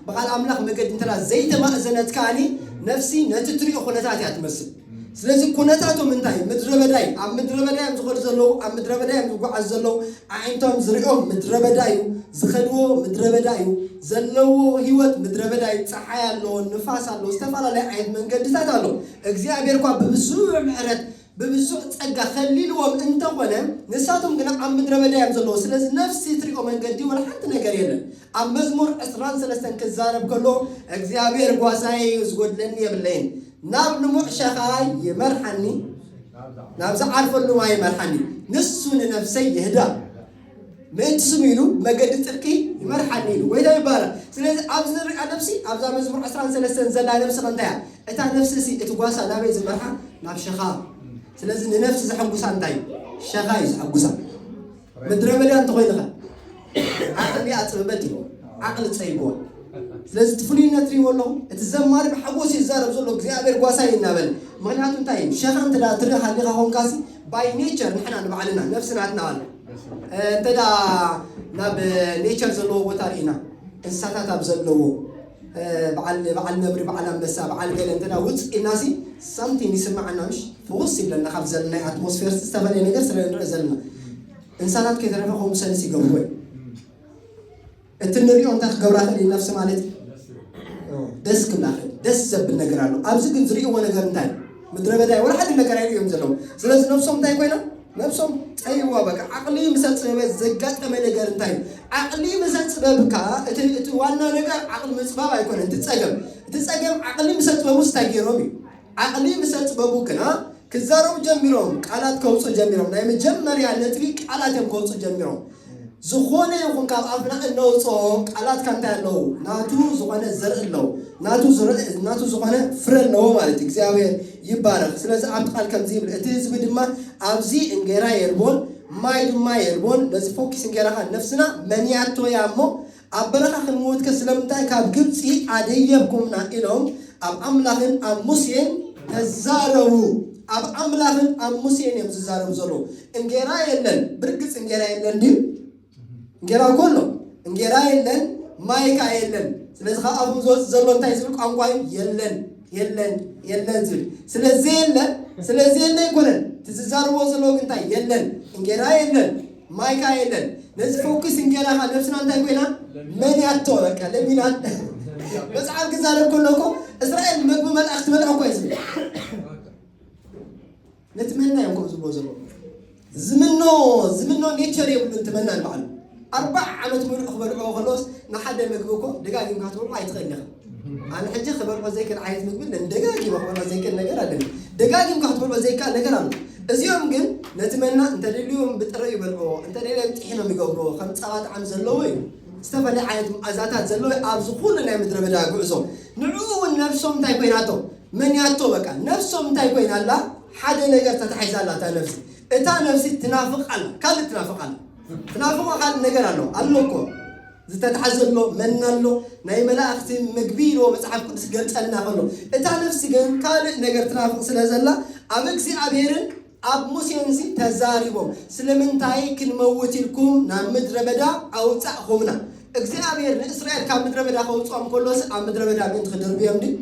ብቃል ኣምላኽ መገዲ እንተ ዘይተማእዘነት ከኣ ነፍሲ ነቲ እትሪኦ ኩነታት እያ ትመስል። ስለዚ ኩነታቶም እንታይ ምድረበዳ እዩ። ኣብ ምድረበዳ እዮም ዝኸዱ ዘለዉ፣ ኣብ ምድረበዳ እዮም ዝጓዓዙ ዘለዉ። ኣዒንቶም ዝሪኦም ምድረበዳ እዩ፣ ዝኸድዎ ምድረበዳ እዩ፣ ዘለዎ ህይወት ምድረበዳ እዩ። ፀሓይ ኣሎ፣ ንፋስ ኣሎ፣ ዝተፈላለዩ ዓይነት መንገድታት ኣሎ። እግዚኣብሔር እኳ ብብዙሕ ምሕረት ብብዙሕ ጸጋ ከሊልዎም እንተ ኾነ ንሳቶም ግና ኣብ ምድረ በዳ እዮም ዘለዉ ስለዚ ነፍሲ ትሪኦ መንገዲ ወላ ሓንቲ ነገር የለን ኣብ መዝሙር ዕስራን ሰለስተን ክዛረብ ከሎ እግዚኣብሔር ጓሳየ እዩ ዝጎድለኒ የብለይን ናብ ልሙዕ ሸኻ ይመርሓኒ ናብ ዝዓርፈሉ ማይ ይመርሓኒ ንሱ ንነፍሰይ የህድኣ ምእንቲ ስሙ ኢሉ መገዲ ጽድቂ ይመርሓኒ ኢሉ ጐይታ ይባረኽ። ስለዚ ኣብዚ ንርእያ ነፍሲ ኣብዛ መዝሙር ዕስራን ሰለስተን ዘላ ነፍሲ ከ እንታይ እያ? እታ ነፍሲ'ሲ እቲ ጓሳ ናበይ ዝመርሓ? ናብ ሸኻ። ስለዚ ንነፍሲ ዘሐጉሳ እንታይ እዩ? ሸኻ እዩ ዘሐጉሳ። ምድረ በዳ እንተኾይንኸ ዓቕሊ ኣጽብበት እዩ ዓቕሊ ጸይጎ ስለዚ እቲ ፍሉይነት ትሪእዎ ኣለኹ እቲ ዘማሪ ብሓጎስ ይዛረብ ዘሎ እግዚኣብሔር ጓሳይ እናበለ ምክንያቱ እንታይ እዩ ሸኻ እንተ ትርኢ ሃሊኻ ኮንካሲ ባይ ኔቸር ንሕና ንባዕልና ነብሲ ናትና ኣሎ እንተ ናብ ኔቸር ዘለዎ ቦታ ርኢና እንስሳታት ኣብ ዘለዎ በዓል ነብሪ በዓል ኣንበሳ በዓል ገለ እንተ ውፅ ኢልናሲ ሳምቲንግ ይስማዓና ምሽ ፍውስ ይብለና ካብ ዘለና ናይ ኣትሞስፌር ዝተፈላለየ ነገር ስለ ንርኢ ዘለና እንስሳታት ከይተረፈ ከምኡ ሰንስ ይገብሩ እቲ ንሪኦ እንታይ ክገብራ ክእል እየን ነፍሲ ማለት እዩ ደስ ክብላ ክእል ደስ ዘብል ነገር ኣሎ ኣብዚ ግን ዝርእዎ ነገር እንታይ ምድረ በዳ እዩ ወላ ሓደ ነገር ኣይርእዩ እዮም ዘለዉ ስለዚ ነብሶም እንታይ ኮይና ነብሶም ጠይዋ በቃ ዓቕሊ ምሰ ፅበበ ዘጋጠመ ነገር እንታይ እዩ ዓቕሊ ምሰ ፅበብ ከዓ እቲ ዋና ነገር ዓቕሊ ምፅባብ ኣይኮነ እቲ ፀገም እቲ ፀገም ዓቕሊ ምሰ ጥበብ ውስጥ እንታይ ገይሮም እዩ ዓቕሊ ምሰጽበቡ ግና ክዛረቡ ጀሚሮም፣ ቃላት ከውጽኡ ጀሚሮም፣ ናይ መጀመርያ ነጥቢ ቃላት እዮም ከውጽኡ ጀሚሮም። ዝኾነ ይኹን ካብ ኣፍና እነውጽኦ ቃላትካ እንታይ ኣለዉ? ናቱ ዝኾነ ዘርኢ ኣለዉ። ናቱ ዝረ ናቱ ዝኾነ ፍረ ኣለዎ ማለት እዩ። እግዚኣብሔር ይባረኽ። ስለዚ ኣብቲ ቃል ከምዚ ይብል፣ እቲ ህዝቢ ድማ ኣብዚ እንጌራ የልቦን ማይ ድማ የልቦን፣ ነዚ ፎኪስ እንጌራ ከኣ ነፍስና መንያቶ እያ እሞ ኣብ በረኻ ክንምውትከ ስለምንታይ ካብ ግብጺ ኣደየብኩምና? ኢሎም ኣብ ኣምላኽን ኣብ ሙሴን ተዛረቡ። ኣብ ኣምላኽን ኣብ ሙሴን እዮም ዝዛረቡ ዘለዉ። እንጌራ የለን፣ ብርግጽ እንጌራ የለን ድዩ? እንጌራ እኮ ኣሎ። እንጌራ የለን፣ ማይ ከኣ የለን። ስለዚ ካብ ኣፎም ዝወጽእ ዘሎ እንታይ ዝብል ቋንቋ እዩ? የለን። የለን የለን ዝብል ስለ ዘየለ ስለ ዘየለ ኣይኮነን ትዝዛርቦ ዘለዎ ግን እንታይ የለን እንጌራ የለን ማይ ከዓ የለን ነዚ ሕውክስ እንጌራ ከዓ ነብስና እንታይ ኮይና መን ያቶ በቃ ለሚናት መፅሓፍ ክዛረብ ከሎ እኮ እስራኤል ምግቢ መልኣኽ ትበልዕ እኮ እዩ ዝብል ነቲ መና እዮም ከም ዝብሎ ዘሎ ዝምኖ ዝምኖ ኔቸር የብሉ እቲ መና ንባዕሉ ኣርባዕ ዓመት ምሉእ ክበልዕዎ ከለዎስ ንሓደ ምግቢ እኮ ደጋጊምካ ክትበልዖ ኣይትኽእል ኢኻ ኣነ ሕጂ ክበልዖ ዘይክእል ዓይነት ምግቢ ነን ደጋጊመ ክበልዖ ዘይክእል ነገር ኣለኒ ደጋጊምካ ክትበልዖ ዘይከኣል ነገር ኣሎ እዚኦም ግን ነቲ መና እንተደልዮም ብጥረ ይበልዕዎ እንተደልዮም ጥሒኖም ይገብርዎ ከም ፀባ ጣዕሚ ዘለዎ እዩ ዝተፈላለየ ዓይነት መኣዛታት ዘለዎ ኣብዚ ኩሉ ናይ ምድረ በዳ ጉዕዞ ንዕኡ እውን ነብሶም እንታይ ኮይናቶ መንያቶ በቃ ነብሶም እንታይ ኮይና ኣላ ሓደ ነገር ተታሒዛ ኣላ እታ ነብሲ እታ ነብሲ ትናፍቅ ኣላ ካልእ ትናፍቅ ኣላ ትናፍቆ ካልእ ነገር ኣሎ ኣሎ እኮ ዝተታሓዘ ኣሎ መና ኣሎ ናይ መላእክቲ ምግቢ ኢልዎ መጽሓፍ ቅዱስ ገልጸልና ከሎ እታ ነብሲ ግን ካልእ ነገር ትናፍቅ ስለ ዘላ ኣብ እግዚኣብሔርን ኣብ ሙሴን ሲ ተዛሪቦም ስለምንታይ ክንመውት ኢልኩም ናብ ምድረ በዳ ኣውጻእኹምና እግዚኣብሔር ንእስራኤል ካብ ምድረ በዳ ከውጽኦም ከሎስ ኣብ ምድረ በዳ ምእንቲ ክድርብዮም ድዩ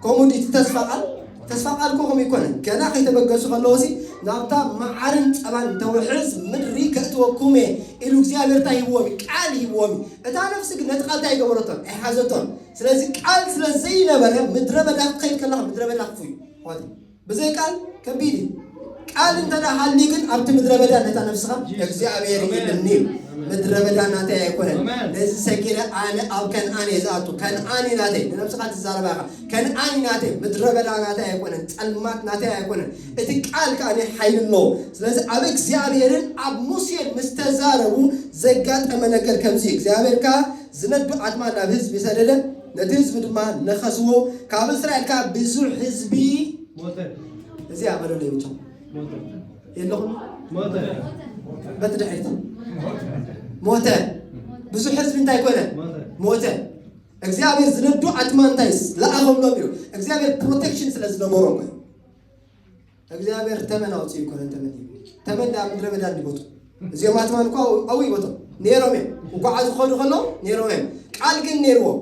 ከምኡ ዲዩ እቲ ተስፋ ቃል ተስፋ ቃል እኮ ከምኡ ይኮነን ገና ከይተበገሱ ከለዉ ሲ ናብታ መዓርን ፀባን ተውሕዝ ምድሪ ከእትወኩም እየ ኢሉ እግዚኣብሔር እንታይ ሂብዎም እዩ ቃል ሂብዎም እዩ እታ ነፍሲ ግን ነቲ ቃል እንታይ ኣይገበረቶን ኣይሓዘቶን ስለዚ ቃል ስለ ዘይነበረ ምድረ በዳ ክኸይድ ከለካ ምድረ በዳ ክፉ እዩ ብዘይ ቃል ከቢድ እዩ። ቃል እንተ ሃልዩ ግን ኣብቲ ምድረ በዳ ነታ ነፍስኻ እግዚኣብሔር ይልኒ እዩ ምድረ በዳ ናተይ ኣይኮነን ነዚ ሰጊረ ኣነ ኣብ ከነኣን እየ ዝኣቱ ከነኣን እዩ ናተይ ንነብስኻ ትዛረባ ኢኻ ከነኣን እዩ ናተይ ምድረ በዳ ናተይ ኣይኮነን ጸልማት ናተይ ኣይኮነን እቲ ቃል ከዓ ሓይሊ ኣለዎ ስለዚ ኣብ እግዚኣብሔርን ኣብ ሙሴን ምስ ተዛረቡ ዘጋጠመ ነገር ከምዚ እግዚኣብሔር ከዓ ዝነዱ ኣድማ ናብ ህዝቢ ሰደደ ነቲ ህዝቢ ድማ ነኸስዎ፣ ካብ እስራኤል ከኣ ብዙሕ ህዝቢ ሞተ። እዚ ኣበለ ለይብቶም የለኹም ሞተ በቲ ድሕሪት ሞተ ብዙሕ ህዝቢ እንታይ ኮነ ሞተ። እግዚኣብሔር ዝነዱ ኣድማንታይስ ለኣኸሎም እዩ። እግዚኣብሔር ፕሮቴክሽን ስለ ዝነበሮም እዩ። እግዚኣብሔር ተመን ኣውፅኡ ኣይኮነን ተመን እዩ ተመን ኣብ ምድረ በዳ እንዲቦቱ እዚኦም ኣትማን እኳ ኣብኡ ይቦቶም ነይሮም እዮም እንኳዓ ዝኸዱ ከሎ ነይሮም እዮም ቃል ግን ነይርዎም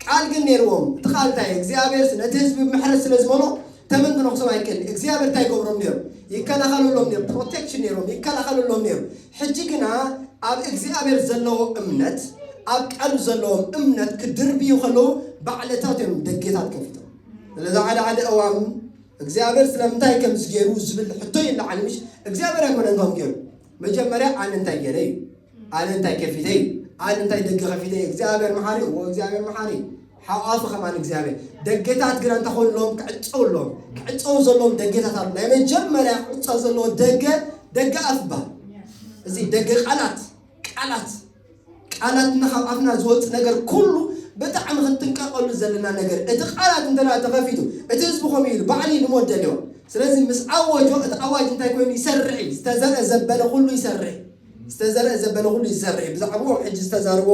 ቃል ግን ነይርዎም እቲ ቃል እንታይ እግዚኣብሔርስ ነቲ ህዝቢ ምሕረት ስለ ዝመሎ ተመን ክነኽሶም ኣይክእል እግዚኣብሔር እንታይ ይገብሮም ነይሩ ይከላኸለሎም ነይሩ ፕሮቴክሽን ነይሮም ይከላኸለሎም ነይሩ ሕጂ ግና ኣብ እግዚኣብሔር ዘለዎ እምነት ኣብ ቃሉ ዘለዎም እምነት ክድርብዩ ከለዉ ባዕለታት እዮም ደጌታት ከፊቶም ስለዚ ሓደ ሓደ እዋን እግዚኣብሔር ስለምንታይ ከምዚ ገይሩ ዝብል ሕቶ ይለዓል ምሽ እግዚኣብሔር ኣይኮነን ከም ገይሩ መጀመርያ ኣነ እንታይ ገይረ እዩ ኣነ እንታይ ከፊተ እዩ ኣነ እንታይ ደገ ከፊተ እዩ እግዚኣብሔር መሓሪ እዎ እግዚኣብሔር መሓሪ ሓቋፉ ከማን እግዚኣብሔር ደገታት ግና እንተኾንሎም ክዕፀው ኣለዎም ክዕፀው ዘለዎም ደገታት ኣሉ ናይ መጀመርያ ክዕፀው ዘለዎ ደገ ደገ ኣፍ ይበሃል እዚ ደገ ቃላት ቃላት ቃላትና ካብ ኣፍና ዝወጽእ ነገር ኩሉ ብጣዕሚ ክንጥንቀቀሉ ዘለና ነገር እቲ ቃላት እንተ ተኸፊቱ እቲ ህዝቢ ከምኡ ኢሉ ባዕለይ ልሞት ደልዋ ስለዚ ምስ ኣወጆ እቲ ኣዋጅ እንታይ ኮይኑ ይሰርሕ እዩ ዝተዘርአ ዘበለ ኩሉ ይሰርሕ ዝተዘርአ ዘበለ ኩሉ ይሰርሕ ብዛዕባኦም ሕጂ ዝተዛረቦ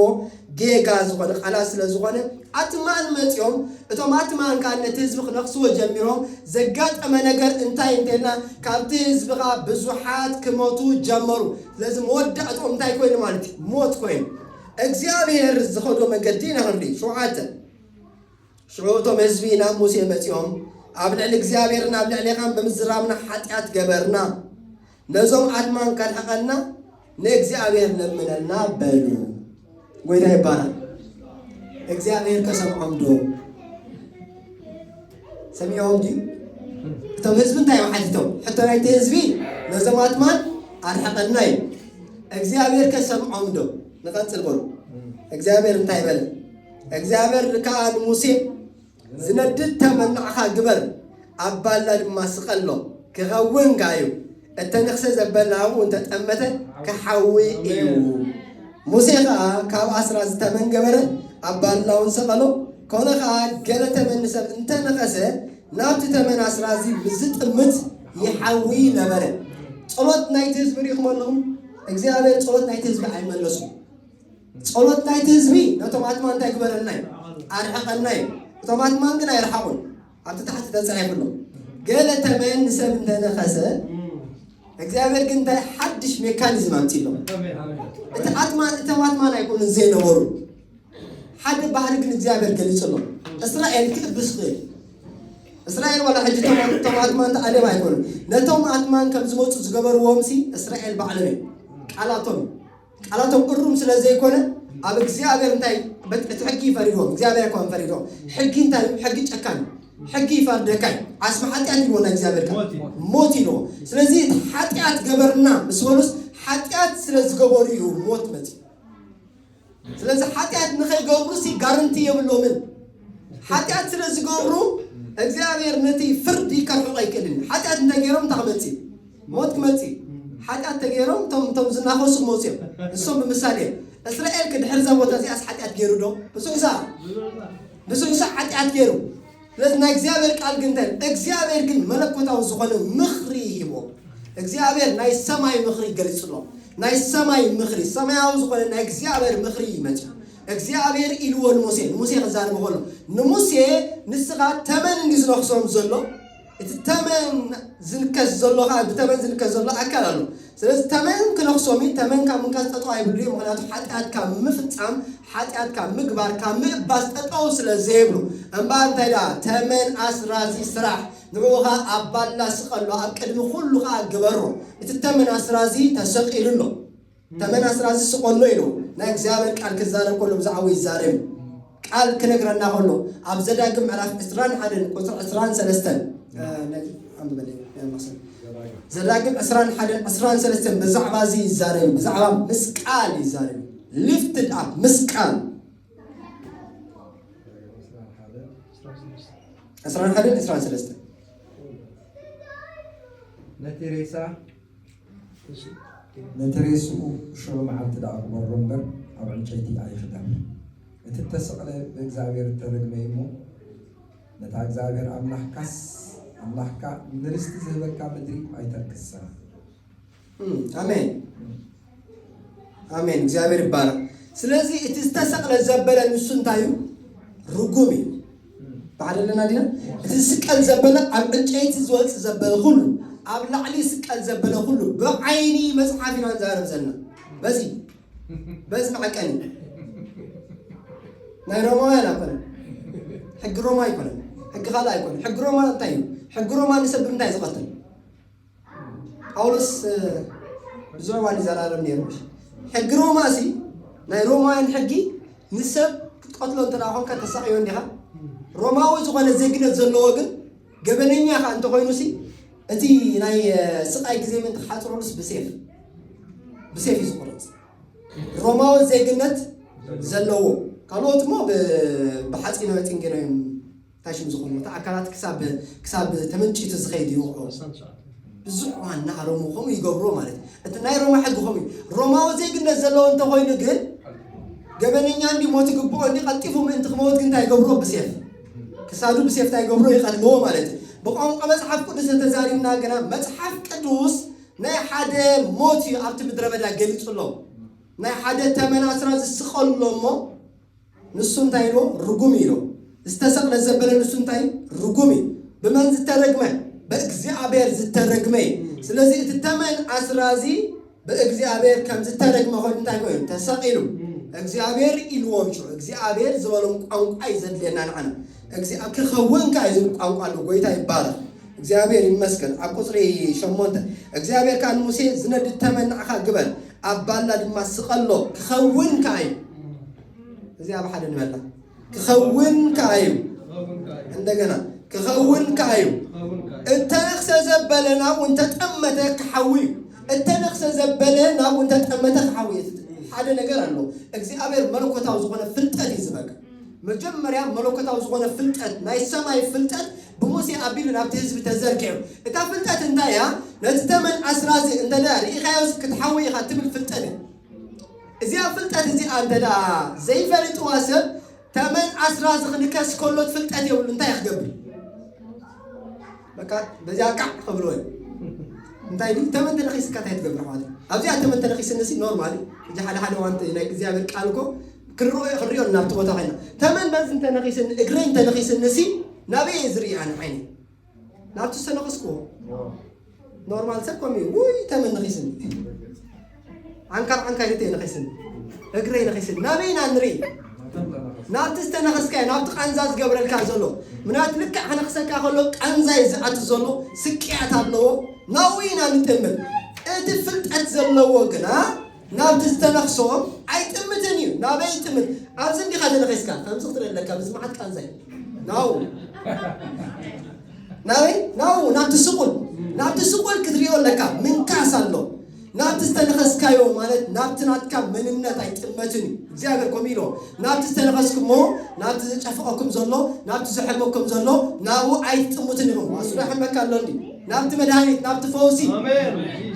ጌጋ ዝኾነ ቃላት ስለ ዝኾነ ኣትማን መጽኦም እቶም ኣትማን ካን ነቲ ህዝቢ ክነኽስዎ ጀሚሮም ዘጋጠመ ነገር እንታይ እንተልና ካብቲ ህዝቢ ከኣ ብዙሓት ክሞቱ ጀመሩ ስለዚ መወዳእትኦም እንታይ ኮይኑ ማለት እዩ? ሞት ኮይኑ። እግዚኣብሄር ዝኸዶ መገዲ ኢና ክንርኢ። ሸውዓተ ሽዑ እቶም ህዝቢ ናብ ሙሴ መጺኦም ኣብ ልዕሊ እግዚኣብሄርን ኣብ ልዕሌኻን ብምዝራብና ሓጢኣት ገበርና፣ ነዞም ኣድማን ከርሕቐና ንእግዚኣብሄር ለምነልና በሉ። ጎይታ ይባረክ። እግዚኣብሔር ከሰምዖም ዶ ሰሚዖም ድዩ? እቶም ህዝቢ እንታይ እዮም ሓቲቶም? ሕቶ ናይቲ ህዝቢ ነዞም ኣጥማት ኣርሕቐና እዩ። እግዚኣብሔር ከሰምዖም ዶ? ንቐፅል በሉ። እግዚኣብሔር እንታይ በለ? እግዚኣብሔር ከዓ ንሙሴ ዝነድድ ተመን ንዓኻ ግበር ኣብ ባላ ድማ ስቐሎ ክኸውን ከኣ እዩ እተነኽሰ ዘበለ ኣብኡ እንተ ጠመተ ክሓዊ እዩ ሙሴ ኸኣ ካብ ኣስራዚ ተመን ገበረ ኣብ ባላውን ሰቐሎ ኮነ ኸኣ ገለ ተመን ንሰብ እንተ ነኸሰ ናብቲ ተመን ኣስራዚ ምስ ዝጥምት ይሓዊ ነበረ ጸሎት ናይቲ ህዝቢ ሪኢኹም ኣለኹም እግዚኣብሔር ጸሎት ናይቲ ህዝቢ ኣይመለሱን ጸሎት ናይቲ ህዝቢ ነቶም ኣትማን እንታይ ግበረልና እዩ? ኣርሕቐና እዩ። እቶም ኣትማን ግን ኣይረሓቑን። ኣብቲ ታሕቲ ተጻሒፉ ኣሎ። ገለ ተመን ንሰብ እንተነኸሰ እግዚኣብሔር ግን እንታይ ሓድሽ ሜካኒዝም ኣምፂሎም እቲ ኣትማን እቶም ኣትማን ኣይኮኑን ዘይነበሩ ሓደ ባህሪ ግን እግዚኣብሔር ገሊፅሎም እስራኤል ክእብስ ክእል እስራኤል ዋላ ሕጂ እቶም ኣትማን ተኣደብ ኣይኮኑን ነቶም ኣትማን ከም ዝመፁ ዝገበርዎም ሲ እስራኤል ባዕሎም እዮም ቃላቶም ቃላቶም እሩም ስለ ዘይኮነ ኣብ እግዚኣብሔር እንታይ እቲ ሕጊ ይፈሪድዎም እግዚኣብሔር እኳ ፈሪድዎም ሕጊ እንታይ እዩ ሕጊ ጨካን ሕጊ ይፈርደካ እዩ ዓስቢ ሓጢኣት ይልዎ ናይ እግዚኣብሔር ቃል ሞት ይልዎ ስለዚ እቲ ሓጢኣት ገበርና ምስ በሉስ ሓጢኣት ስለ ዝገበሩ እዩ ሞት መፅኡ ስለዚ ሓጢኣት ንኸይገብሩ ሲ ጋርንቲ የብሎምን ሓጢኣት ስለ ዝገብሩ እግዚኣብሔር ነቲ ፍርዲ ከርሕቆ ኣይክእልን እዩ ሓጢኣት እንተገይሮም እንታይ ክመፅእ እዩ ሞት ክመጽእ እዩ ሓጢኣት ተገይሮም እቶም እቶም ዝናኸሱ ክመጹ እዮም ንሶም ብምሳሌ እዮም እስራኤል ክድሕር እዛ ቦታ እዚኣስ ሓጢኣት ገይሩ ዶ ብዙሕ ሳዕ ብዙሕ ሳዕ ሓጢኣት ገይሩ ስለዚ ናይ እግዚኣብሔር ቃል ግን እንታይ ይብል? እግዚኣብሔር ግን መለኮታዊ ዝኾነ ምኽሪ ሂቦ እግዚኣብሔር ናይ ሰማይ ምኽሪ ገሊጹሎ ናይ ሰማይ ምኽሪ ሰማያዊ ዝኾነ ናይ እግዚኣብሔር ምኽሪ ይመጽ እግዚኣብሔር ኢልዎ ንሙሴ ንሙሴ ክዛረበ ከሎ ንሙሴ ንስኻ ተመን እንዲ ዝነኽሶም ዘሎ እቲ ተመን ዝንከስ ዘሎ ከኣ ብተመን ዝንከስ ዘሎ ኣካል ኣሎ ስለዚ ተመን ክነክሶም እዩ ተመን ካብ ምንካስ ጠጠው ኣይብሉ እዩ ምክንያቱ ሓጢኣት ካብ ምፍጻም ሓጢኣት ካብ ምግባር ካብ ምእባስ ጠጠው ስለ ዘይብሉ እምበኣር እንታይ ደኣ ተመን ኣስራዚ ስራሕ ንዕኡ ኸኣ ኣብ ባላ ስቀሎ ኣብ ቅድሚ ኩሉ ኸኣ ግበሮ እቲ ተመን ኣስራዚ ተሰቂሉ ኣሎ ተመን ኣስራዚ ስቆሎ ኢሉ ናይ እግዚኣብሔር ቃል ክዛረብ ከሎ ብዛዕኡ ይዛረብ ቃል ክነግረና ከሎ ኣብ ዘዳግም ምዕራፍ ዕስራን ሓደን ቁፅሪ ዕስራን ሰለስተን ዘዳግም ዕስራን ሓደን ዕስራን ሰለስተን ብዛዕባ እዚ ይዛረብ ብዛዕባ ምስ ቃል ይዛረብ ሊፍትድ ኣፕ ምስ ቃል ዕስራን ሓደን ዕስራን ሰለስተን ነቲ ሬሳ ነቲ ሬስኡ ሽዑ መዓልቲ ደኣ ቅበሮ እምበር ኣብ ዕንጨይቲ ኣይኽደን። እቲ እተሰቕለ ብእግዚኣብሄር እተረግመ እዩ እሞ፣ ነታ እግዚኣብሄር ኣምላኽካስ ኣምላኽካ ንርስቲ ዝህበካ ምድሪ ኣይተርክሳ። ኣሜን። ኣሜን እግዚኣብሔር ይባረክ ስለዚ እቲ ዝተሰቅለ ዘበለ ንሱ እንታይ እዩ ርጉም እዩ ባዕል ኣለና ዲና እቲ ዝስቀል ዘበለ ኣብ ዕንጨይቲ ዝወፅ ዘበለ ኩሉ ኣብ ላዕሊ ስቀል ዘበለ ኩሉ ብዓይኒ መፅሓፍ ኢና ንዛረብ ዘለና በዚ በዚ መዐቀኒ ናይ ሮማውያን ኣይኮነ ሕጊ ሮማ ኣይኮነ ሕጊ ካልእ ኣይኮነ ሕጊ ሮማ እንታይ እዩ ሕጊ ሮማ ንሰብ ብምንታይ ዝቐትል ጳውሎስ ብዙሕ ዋን ይዘራረብ ነይሩ ሕጊ ሮማ እዚ ናይ ሮማውያን ሕጊ ንሰብ ክትቀትሎ እንተ ኮንካ ተሳቅዮ እንዲኻ ሮማዊ ዝኾነ ዜግነት ዘለዎ ግን ገበነኛ ኻ እንተኮይኑ ሲ እቲ ናይ ስቃይ ግዜ ምእንቲ ክሓፅረሉስ ብሴፍ ብሴፍ እዩ ዝቁረፅ ሮማዊ ዜግነት ዘለዎ ካልኦት እሞ ብሓፂነ መፂን ገይሮም ፋሽን ዝኾኑ እቲ ኣካላት ክሳብ ክሳብ ተመንጭቱ ዝኸይድ እዩ ይወቕዑ። ብዙሕ እዋን ንኣሮሙ ከምኡ ይገብርዎ ማለት እዩ። እቲ ናይ ሮማ ሕጊ ከምኡ እዩ። ሮማዊ ዜግነት ዘለዎ እንተኾይኑ ግን ገበነኛ እንዲ ሞት ይግብኦ እንዲ ቀልጢፉ ምእንቲ ክመውት ግን እንታይ ይገብርዎ ብሴፍ ክሳዱ ብሴፍ እንታይ ይገብርዎ ይቐትልዎ ማለት እዩ። ብቋንቋ መጽሓፍ ቅዱስ እንተዛሪብና ግና መጽሓፍ ቅዱስ ናይ ሓደ ሞት እዩ ኣብቲ ምድረ በዳ ገሊጹሎም ናይ ሓደ ተመን ኣስራ ዝስቐሉሎ እሞ ንሱ እንታይ ኢልዎ ርጉም እዩ ኢልዎ ዝተሰቅለ ዘበለ ንሱ እንታይ ርጉም እዩ ብመን ዝተረግመ በእግዚኣብሔር ዝተረግመ እዩ ስለዚ እቲ ተመን ኣስራዚ ብእግዚኣብሔር ከም ዝተረግመ ኮይኑ እንታይ ኮይኑ ተሰቂሉ እግዚኣብሔር ኢልዎም ሽዑ እግዚኣብሔር ዝበሎም ቋንቋ እዩ ዘድልየና ንዓና ክኸውን ከ ዝብል ቋንቋ ኣሎ ጎይታ ይባረክ እግዚኣብሔር ይመስገን ኣብ ቁጽሪ ሸሞንተ እግዚኣብሔር ከኣ ንሙሴ ዝነድድ ተመን ንዓኻ ግበር ኣብ ባላ ድማ ስቀሎ ክኸውን ከኣ እዩ እዚ ኣብ ሓደ ንበላ ክኸውን ከኣ እዩ እንደገና ክኸውን ከኣ እዩ እተነኽሰ ዘበለ ናብ እንተጠመተ ክሓዊ እዩ እተነኽሰ ዘበለ ናብ እንተጠመተ ክሓዊ እዩ ሓደ ነገር ኣሎ እግዚኣብሔር መለኮታዊ ዝኾነ ፍልጠት እዩ ዝበካ መጀመርያ መለኮታዊ ዝኾነ ፍልጠት፣ ናይ ሰማይ ፍልጠት ብሙሴ ኣቢሉ ናብቲ ህዝቢ ተዘርጊሑ። እታ ፍልጠት እንታይ እያ? ነዚ ተመን ኣስራዚ እንተ ርኢኻዮስ ክትሓዊ ኢኻ ትብል ፍልጠት እያ። እዚኣ ፍልጠት እዚኣ እንተ ዘይፈሊጥዋ ሰብ ተመን ኣስራዚ ክንከስ ከሎ ፍልጠት የብሉ እንታይ ክገብር በቃ በዚኣ ቃዕ ክብሎ እዩ። እንታይ ድዩ ተመን ተነኺስካ እንታይ ትገብር ኣሕዋት? ኣብዚኣ ተመን ተነኺስኒ ሲ ኖርማል እዩ። እዚ ሓደ ሓደ ዋንቲ ናይ እግዚኣብሔር ቃል እኮ ክርኦ'የ ክንሪኦን ናብቲ ቦታ ኬድና ተመን በዚ እንተ ነኺስኒ እግረይ እንተ ነኺስኒ'ሲ ናበይ እየ ዝርኢ ኣነ ዓይነይ ናብቲ ዝተነኽስክዎ ኖርማል ሰብ ከምኡ እዩ ውይ ተመን ነኺስኒ ዓንካር ዓንካይ እየ ነኺስኒ እግረይ ነኺስኒ ናበይ ኢና ንርኢ ናብቲ ዝተነኸስካዮ ናብቲ ቃንዛ ዝገብረልካ ዘሎ ምናት ልክዕ ክነኽሰካ ከሎ ቃንዛ እዩ ዝኣት ዘሎ ስቅያት ኣለዎ ናብኡ ኢና ንጥምር እቲ ፍልጠት ዘለዎ ግና ናብቲ ዝተነኽሶ ኣይጥምትን እዩ ናበይ ይጥምት ኣብዚ እንዲኻ ተነኺስካ ከምዚ ክትርኢ ኣለካ ብዚ መዓት ቃንዛ እዩ ናው ናበይ ናው ናብቲ ስቁል ናብቲ ስቁል ክትሪኦ ኣለካ ምንካስ ኣሎ ናብቲ ዝተነኸስካዮ ማለት ናብቲ ናትካ መንነት ኣይጥመትን እዩ እግዚኣብሔር ከምኡ ኢሎ ናብቲ ዝተነኸስኩሞ፣ ናብቲ ዝጨፍቐኩም ዘሎ፣ ናብቲ ዝሕመኩም ዘሎ፣ ናብኡ ኣይትጥምቱን ኢኹም። ኣስሎ ይሕመካ ኣሎ እንዲ ናብቲ መድሃኒት፣ ናብቲ ፈውሲ።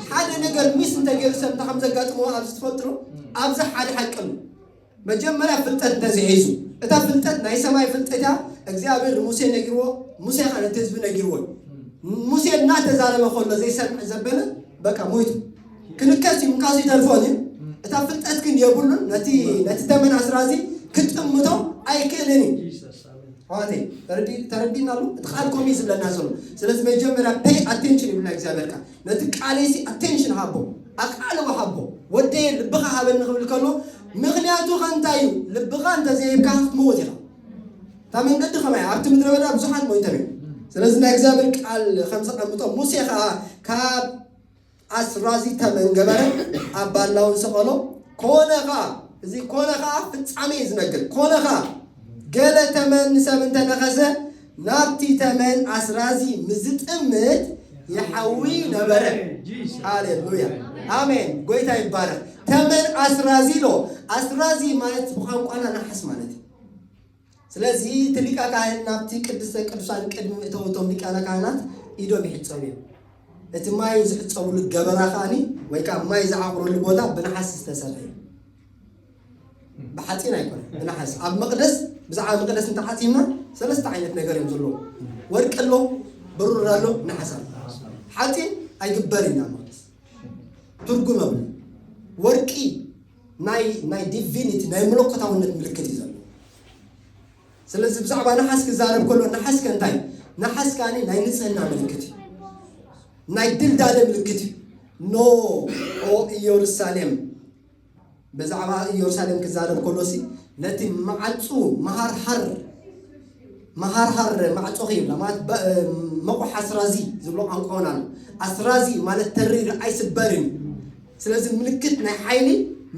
ሓደ ነገር ምስ እንተገይሩ ሰብ እንታይ ከም ዘጋጥሞ ኣብዚ ትፈልጥሩ ኣብዚ ሓደ ሓቂ ኣሎ። መጀመርያ ፍልጠት እንተዝሒዙ እታ ፍልጠት ናይ ሰማይ ፍልጠት እያ። እግዚኣብሔር ንሙሴ ነጊርዎ፣ ሙሴ ከዓ ነቲ ህዝቢ ነጊርዎ። ሙሴ እናተዛረበ ከሎ ዘይሰምዕ ዘበለ በቃ ሞይቱ። ክንከስ እዩ እንካዙይ ተርፎን እዩ እታ ፍልጠት ግን የብሉን ነቲ ነቲ ተመን ኣስራዚ ክትጥምቶ ኣይክእልን እዩ ኣዋተይ ተረዲና ኣሎ እቲ ቃል ኮሚ ዝብለና ዘሎ ስለዚ መጀመርያ ፔይ ኣቴንሽን ይብልና እግዚኣብሔር ቃል ነቲ ቃለይሲ ኣቴንሽን ሃቦ ኣቃልቦ ሃቦ ወደየ ልብኻ ሃበኒ ክብል ከሎ ምክንያቱ ከንታይ እዩ ልብኻ እንተዘይብካ ክትመውት ኢኻ እታ መንገዲ ከማይ ኣብቲ ምድረ በዳ ብዙሓት ሞይቶም እዮም ስለዚ ናይ እግዚኣብሔር ቃል ከም ዘቐምጦ ሙሴ ከዓ ካብ ኣስራዚ ተመን ገበረ ኣብ ባላውን ሰቐሎ፣ ኮነ ኸኣ፣ እዚ ኮነ ኸኣ ፍጻሜ እዩ ዝነግር፣ ኮነ ኸኣ፣ ገለ ተመን ንሰብ እንተ ነኸሰ፣ ናብቲ ተመን ኣስራዚ ምስ ዝጥምት ይሓዊ ነበረ። ሃሌሉያ ኣሜን፣ ጐይታ ይባረኽ። ተመን ኣስራዚ ኣሎ፣ ኣስራዚ ማለት ብቋንቋና ነሓስ ማለት እዩ። ስለዚ እቲ ሊቀ ካህን ናብቲ ቅድስተ ቅዱሳን ቅድሚ ምእተው እቶም ሊቃነ ካህናት ኢዶም ይሕጸቡ እዮም። እቲ ማይ ዝሕጸብሉ ገበና ከኣኒ ወይ ከኣ ማይ ዝዓቑረሉ ቦታ ብነሓስ ዝተሰርሐ እዩ። ብሓጺን ኣይኮነ ብነሓስ ኣብ መቅደስ ብዛዕባ መቅደስ እንተሓሲብና ሰለስተ ዓይነት ነገር እዮም ዘለዎ ወርቂ ኣሎ ብሩር ኣሎ ነሓስ ኣሎ ሓጺን ኣይግበር ኢና መቅደስ ትርጉም የብሉ ወርቂ ናይ ናይ ዲቪኒቲ ናይ መለኮታውነት ምልክት እዩ ዘሎ ስለዚ ብዛዕባ ነሓስ ክዛረብ ከሎ ነሓስ ከ እንታይ ነሓስ ከኣ ናይ ንጽህና ምልክት እዩ ናይ ድልዳለ ምልክት እዩ ኖ ኦ ኢየሩሳሌም ብዛዕባ ኢየሩሳሌም ክዛረብ ከሎሲ ነቲ መዓጹ መሃርሃር መሃርሃር ማዕጾ ይብላ ማለት መቑሕ ኣስራዚ ዝብሎ ቋንቋ እውን ኣሎ ኣስራዚ ማለት ተሪር ኣይስበርን ስለዚ ምልክት ናይ ሓይሊ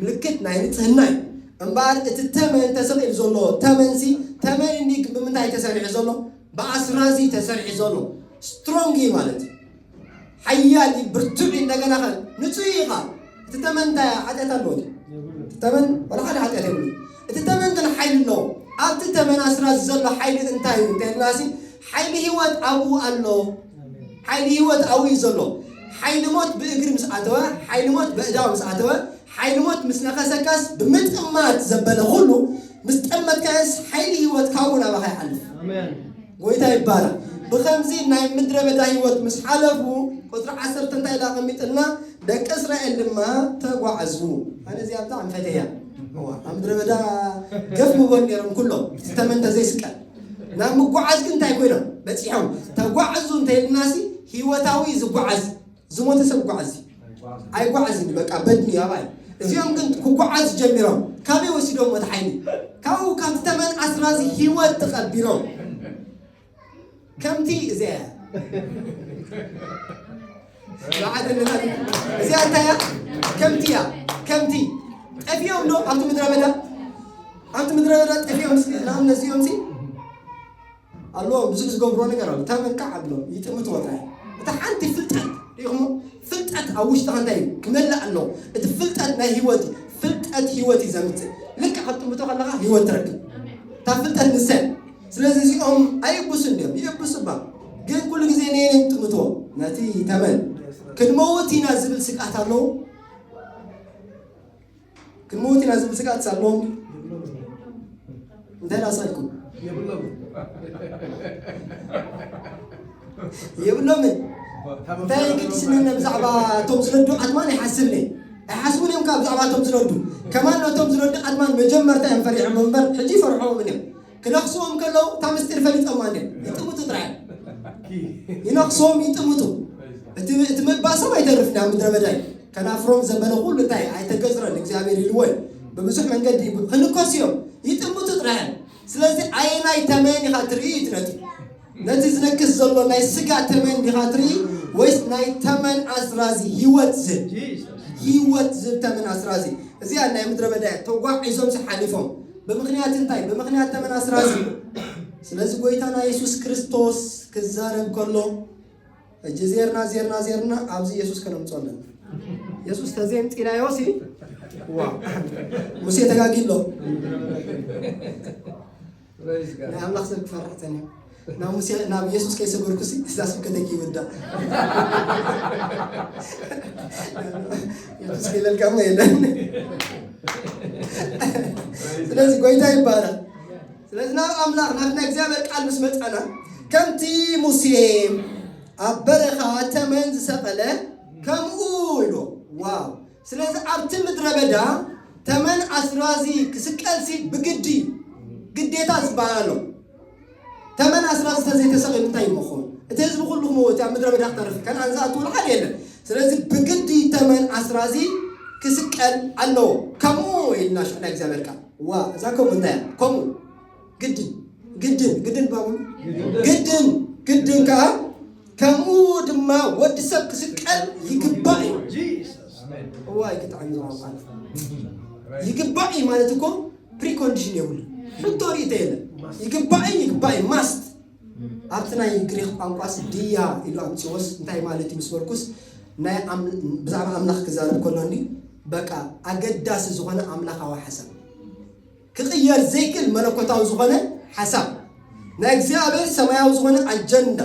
ምልክት ናይ ንጽህና እዩ። እምበኣር እቲ ተመን ተሰቒሉ ዘሎ ተመንሲ ተመን እንድዩ ግን ብምንታይ እዩ ተሰሪሑ ዘሎ? ብኣስራዚ እዩ ተሰሪሑ ዘሎ። ስትሮንግ እዩ ማለት እዩ። ሓያል እዩ፣ ብርቱዕ እዩ፣ እንደገና ከ ንጹህ እዩ ኸኣ። እቲ ተመን እንታይ ሓጢኣት ኣለዎ? እቲ ተመን ዋላ ሓደ ሓጢኣት የብሉን። እቲ ተመን ግን ሓይሊ ኣለዎ። ኣብቲ ተመን ኣስራዚ ዘሎ ሓይሊ እንታይ እዩ እንተ ኢልናሲ፣ ሓይሊ ህይወት ኣብኡ ኣሎ። ሓይሊ ህይወት ኣብኡ እዩ ዘሎ። ሓይሊ ሞት ብእግሪ ምስ ኣተወ፣ ሓይሊ ሞት በእዳው ምስ ኣተወ፣ ሓይሊ ሞት ምስ ነኸሰካስ፣ ብምጥማት ዘበለ ኹሉ ምስ ጠመትካዮስ፣ ሓይሊ ህይወት ካብኡ ናባኻ ይሓልፍ። ጎይታ ይባረኽ። ብኸምዚ ናይ ምድረ በዳ ህይወት ምስ ሓለፉ፣ ቁጽሪ ዓሰርተ እንታይ ኢሉ ኣቐሚጥልና፣ ደቂ እስራኤል ድማ ተጓዕዙ። ኣነ እዚኣ ብጣዕሚ ፈቴያ። እዋ ኣብ ምድረ በዳ ገፍ ምቦን ነይሮም ኩሎም እቲ ተመን እንተዘይስቀል ናብ ምጓዓዝ ግን እንታይ ኮይኖም በፂሖም ተጓዕዙ እንተይልናሲ ህይወታዊ ዝጓዓዝ ዝሞተ ሰብ ጓዓዝ ኣይጓዓዝን እዩ በቃ በድኒ ኣባይ እዚኦም ግን ክጓዓዝ ጀሚሮም ካበይ ወሲዶም እቲ ሓይሊ ካብኡ ካብቲ ተመን ኣስራዚ ህይወት ተቐቢሮም ከምቲ እዚኣ በዓል እንና እዚኣ እንታይ እያ? ከምቲ እያ ከምቲ ጠፊኦም ዶ ኣብቲ ምድረ በዳ ኣብቲ ምድረ በዳ ጠፊኦም ሲ ንኣብነት እዚኦም ሲ ኣለዎ ብዙሕ ዝገብሮ ነገር ኣሎ ተመካ ዓብሎ ይጥምት ወጣ እታ ሓንቲ ፍልጠት ሪኢኹሞ ፍልጠት ኣብ ውሽጥኻ እንታይ እዩ ክመልእ ኣሎ እቲ ፍልጠት ናይ ህይወት እዩ ፍልጠት ህይወት እዩ ዘምፅእ ልክዕ ኣብ ጥምቶ ከለኻ ህይወት ትረክብ እታ ፍልጠት ንሰን ስለዚ እዚኦም ኣይእብሱን ድዮም? ይእብሱ እባ፣ ግን ኩሉ ግዜ ንየን እዮም ጥምቶ? ነቲ ተመን ክንመውት ኢና ዝብል ስግኣት ኣለዉ? ክንመውት ኢና ዝብል ስግኣት ኣለዎም? እንታይ ላሳልኩም የብሎምን እንታይ የገድስንን ብዛዕባ እቶም ዝነዱ ዓድማን ይሓስብኒ ኣይሓስቡን እዮም ካብ ብዛዕባ እቶም ዝነዱ ከማን ነቶም ዝነዱ ዓድማን መጀመርታ እዮም ፈሪሖም እምበር ሕጂ ይፈርሖምን እዮም ክነኽስዎም ከለዉ እታ ምስጢር ፈሊጦማ እንድዮም ይጥምቱ ጥራይ ይነኽስዎም ይጥምቱ እቲ እቲ ምባሶም ኣይተርፍን ኣብ ምድረ በዳ እዩ ከናፍሮም ዘበለ ኩሉ እንታይ እዩ ኣይተገዝረን እግዚኣብሔር ኢልዎ እዩ ብብዙሕ መንገዲ ክንከሱ እዮም ይጥምቱ ጥራይ እዮም ስለዚ ኣየናይ ተመን ኢኻ ትርኢ እዩ እቲ ነጥቢ ነቲ ዝነግስ ዘሎ ናይ ስጋ ተመን ዲኻ ትርኢ ወይስ ናይ ተመን ኣስራዚ ሂወት ዝህብ ሂወት ዝህብ ተመን ኣስራዚ እዚኣ ናይ ምድረ በዳ እያ ተጓዒዞምሲ ሓሊፎም ብምኽንያት እንታይ ብምኽንያት ተመን ኣስራዚ ስለዚ ጎይታና የሱስ ክርስቶስ ክዛረብ ከሎ እጂ ዜርና ዜርና ዜርና ኣብዚ የሱስ ከነምጾ ኣለና የሱስ ተዘየምፂናዮ ሲ ዋ ሙሴ ተጋጊሎ ናይ ኣምላኽ ሰብ ክፈርሕ ጸኒሑ ናብ ሙሴ ናብ ኢየሱስ ከይሰገድኩሲ እዛ ስብከተይ ክይውዳእ ኢየሱስ ከይለልካ እሞ የለን ስለዚ ጎይታ ይባላል ስለዚ ናብ ኣምላኽ ናብ ናይ እግዚኣብሔር ቃል ምስ መፃና ከምቲ ሙሴ ኣብ በረኻ ተመን ዝሰቐለ ከምኡ ኢሉ ዋው ስለዚ ኣብቲ ምድረ በዳ ተመን ኣስራዚ ክስቀልሲ ብግዲ እዩ፣ ግዴታ ዝበሃል ኣሎ። ተመን ኣስራዚ ተዘይተሰቂሉ እንታይ ይመኾን? እቲ ህዝቢ ኩሉ ክመውት እዩ፣ ኣብ ምድረ በዳ ክተርፍ እዩ፣ ከነኣን ዝኣትውሉ ሓደ የለን። ስለዚ ብግዲ ተመን ኣስራዚ ክስቀል ኣለዎ። ከምኡ ኢልና ሽሕ ናይ እግዚኣብሔር ቃል። ዋእ እዛ ከምኡ እንታይ እያ? ከምኡ። ግድን ግድን ግድን ባሉ ግድን ግድን ከዓ ከምኡ ድማ ወዲ ሰብ ክስቀል ይግባእ እዩ እዋይ ክጣዕሚ ዝዋቋል ይግባእ እዩ ማለት እኮ ፕሪኮንዲሽን የብሉ ሕቶ ርእቶ የለን ይግባእን ይግባእ እዩ ማስት ኣብቲ ናይ ግሪክ ቋንቋስ ድያ ኢሉ ኣምፅዎስ እንታይ ማለት እዩ ምስ በልኩስ ናይ ኣም- ብዛዕባ ኣምላኽ ክዛረብ ከሎ እንዲ በቃ ኣገዳሲ ዝኾነ ኣምላኻዊ ሓሳብ ክቕየር ዘይክእል መለኮታዊ ዝኾነ ሓሳብ፣ ናይ እግዚኣብሔር ሰማያዊ ዝኾነ ኣጀንዳ።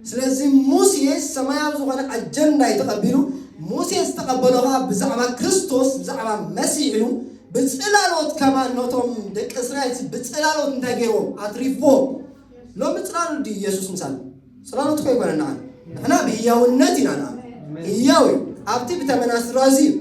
ስለዚ ሙሴ ሰማያዊ ዝኾነ ኣጀንዳ እዩ ተቐቢሉ። ሙሴ ዝተቐበሎ ኸዓ ብዛዕባ ክርስቶስ ብዛዕባ መሲሕ እዩ። ብጽላሎት ከማን ነቶም ደቂ እስራኤል ብጽላሎት እንታይ ገይርዎም ኣትሪፍዎም። ሎሚ ጽላሎት ድዩ ኢየሱስ ምሳና? ጽላሎትኮ ኣይኮነን ንዓና ንሕና ብህያውነት ኢና ንኣምን ህያው እዩ ኣብቲ ብተመና ስድራ እዚ እዩ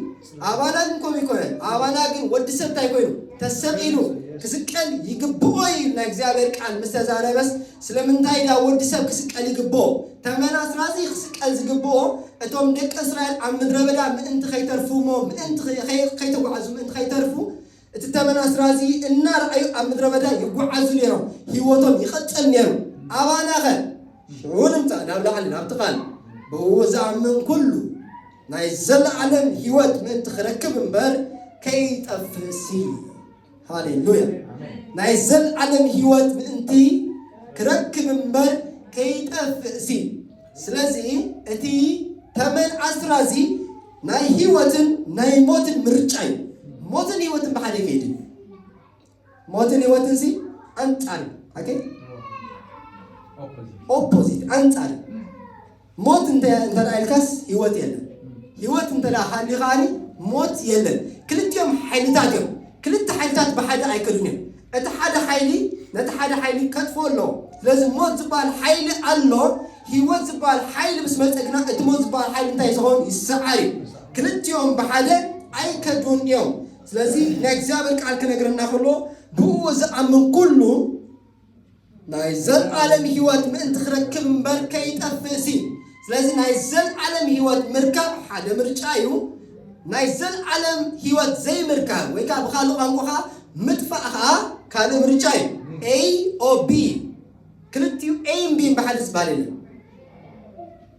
ኣባና ግን ከምኡ ኣይኮነን ኣባና ግን ወዲ ሰብ እንታይ ኮይኑ ተሰቂሉ ክስቀል ይግብኦ እዩ ናይ እግዚኣብሔር ቃል ምስ ተዛረበስ ስለምንታይ ድኣ ወዲ ሰብ ክስቀል ይግብኦ ተመና ስድራ እዚ ክስቀል ዝግብኦ እቶም ደቂ እስራኤል ኣብ ምድረ በዳ ምእንቲ ከይተርፉ እሞ ምእንቲ ከይተጓዕዙ ምእንቲ ከይተርፉ እቲ ተመን ኣስራዚ እናረኣዩ ኣብ ምድረ በዳ ይጓዓዙ ነይሮም፣ ህይወቶም ይቕጽል ነይሩ። ኣባናኸ? ሽዑ ንምጻእ ናብ ላዕሊ ናብቲ ቓል ብእኡ ዝኣምን ኩሉ ናይ ዘለኣለም ህይወት ምእንቲ ክረክብ እምበር ከይጠፍእሲ። ሃሌሉያ! ናይ ዘለኣለም ህይወት ምእንቲ ክረክብ እምበር ከይጠፍእሲ። ስለዚ እቲ ተመን ኣስራዚ ናይ ህይወትን ናይ ሞትን ምርጫ እዩ። ሞትን ህይወትን ብሓደ ከይዲ ሞትን ህይወትን ሲ ኣንጻር ኦኬ ኦፖዚት ኣንጻር ሞት እንተ ኢልካስ ህይወት የለን ህይወት እንተ ሃሊ ከዓኒ ሞት የለን ክልቲኦም ሓይልታት እዮም ክልተ ሓይልታት ብሓደ ኣይከዱን እዮም እቲ ሓደ ሓይሊ ነቲ ሓደ ሓይሊ ከጥፍኦ ኣለዎ። ስለዚ ሞት ዝበሃል ሓይሊ ኣሎ፣ ህይወት ዝበሃል ሓይሊ ምስ መጸ ግና እቲ ሞት ዝበሃል ሓይሊ እንታይ እዩ ዝኸውን? ይሰዓር እዩ። ክልቲኦም ብሓደ ኣይከዱን እዮም። ስለዚ ናይ እግዚኣብሔር ቃል ክነግረና ከሎ ብእኡ ዝኣምን ኩሉ፣ ናይ ዘልዓለም ሕይወት ምእንቲ ክረክብ እምበር ከይጠፍእ ሲ ስለዚ ናይ ዘልዓለም ሕይወት ምርካብ ሓደ ምርጫ እዩ ናይ ዘልዓለም ሕይወት ዘይምርካብ ወይ ከዓ ብካልእ ቋንቋ ከዓ ምጥፋእ ከዓ ካልእ ምርጫ እዩ ኤይ ኦ ቢ ክልቲኡ ኤይን ቢን ብሓደ ዝበሃል የለን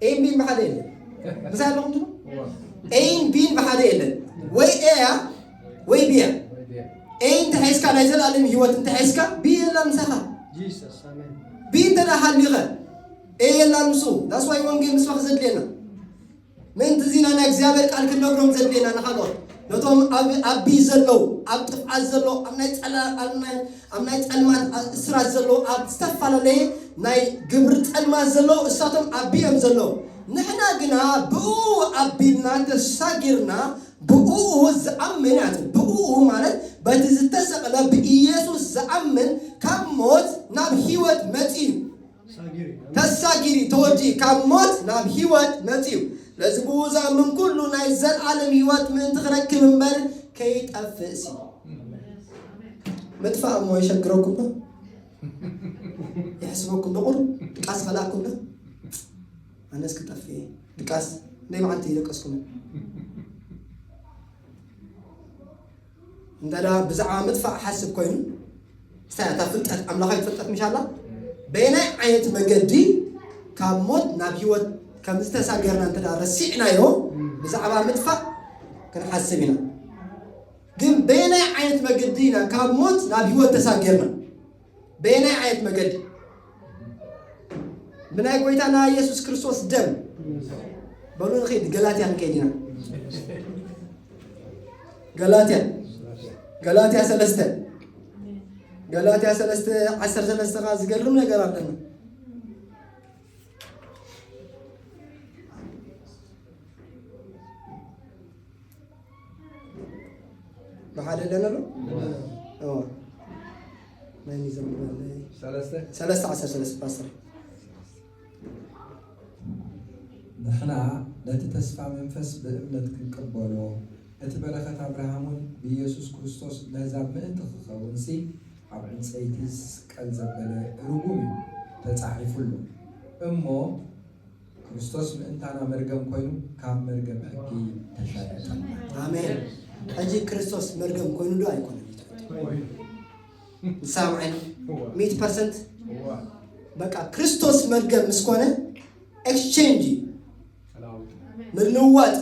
ኤን ቢን ብሓደ የለን ምሳይ ኣለኹም ትብሉ ኤን ቢን ብሓደ የለን ወይ ኤያ ወይ ቢያ ኤይ እንተሒዝካ ናይ ዘለኣለም ሂወት እንተሒዝካ ቢ የላ ምሳኻ ቢ እንተ ሃሊኸ ኤይ የላ ንሱ ዳስዋይ ወንጌል ምስባኽ ዘድልየና ምእንቲ እዚና ናይ እግዚኣብሔር ቃል ክንነግሮም ዘድልየና ንካልኦት ነቶም ኣብ ቢ ዘለዉ ኣብ ጥፍዓት ዘለዉ ኣብ ናይ ፀላ ኣብ ናይ ጸልማት እስራት ዘሎ ኣብ ዝተፋላለየ ናይ ግብሪ ጸልማት ዘሎ እሳቶም ኣቢዮም ዘሎ ንሕና ግና ብእኡ ኣቢልና ተሳጊርና ብእኡ ዝኣምን ኣቲ ብእኡ ማለት በቲ ዝተሰቅለ ብኢየሱስ ዝኣምን ካብ ሞት ናብ ሕይወት መጺኡ ተሳጊሪ፣ ተወዲኡ፣ ካብ ሞት ናብ ህይወት መጺኡ። ስለዚ ብእኡ ዝኣምን ኩሉ ናይ ዘልኣለም ህይወት ምእንቲ ክረክብ እምበር ከይጠፍእሲ። ምጥፋእ እሞ የሸግረኩም ዶ? የሕስበኩም ዶ? ቁር ድቃስ ከላእኩም ዶ? ኣነስ ክጠፍእ እየ ድቃስ ናይ መዓልቲ ይደቀስኩም እንተ ብዛዕባ ምጥፋእ ሓስብ ኮይኑ እንታይ እያ እታ ፍልጠት ኣምላኻዊት ፍልጠት ምሻ ኣላ በየናይ ዓይነት መገዲ ካብ ሞት ናብ ሂወት ከም ዝተሳገርና እንተ ረሲዕናዮ ብዛዕባ ምጥፋእ ክንሓስብ ኢና ግን በየናይ ዓይነት መገዲ ኢና ካብ ሞት ናብ ሂወት ተሳገርና በየናይ ዓይነት መገዲ? ብናይ ጎይታና ኢየሱስ ክርስቶስ ደም በሉ ንኺድ ገላትያ ንከይድ ኢና ገላትያ ገላትያ ሰለስተ ገላትያ ሰለስተ ዓሰርተ ሰለስተ ከዓ ዝገርም ነገር ኣለና ብሓደ ኣለና ዶ እዎ ናይ ዘምር ሰለስተ ሰለስተ ዓሰርተ ሰለስተ ፓስተር ንሕና ነቲ ተስፋ መንፈስ ብእምነት ክንቅበሎ እቲ በረኸት ኣብርሃም እውን ብኢየሱስ ክርስቶስ ነህዛብ ምእንቲ ክኸውን ሲ ኣብ ዕንፀይቲ ዝስቀል ዘበለ ርጉም እዩ ተፃሒፉ ኣሎ እሞ ክርስቶስ ምእንታና መርገም ኮይኑ ካብ መርገም ሕጊ ተሻለጠና። ኣሜን ሕጂ ክርስቶስ መርገም ኮይኑ ዶ ኣይኮነን ትሰምዐኒ ሚት ፐርሰንት በቃ ክርስቶስ መርገም ምስ ኮነ ኤክስቼንጅ እዩ ምልዋጥ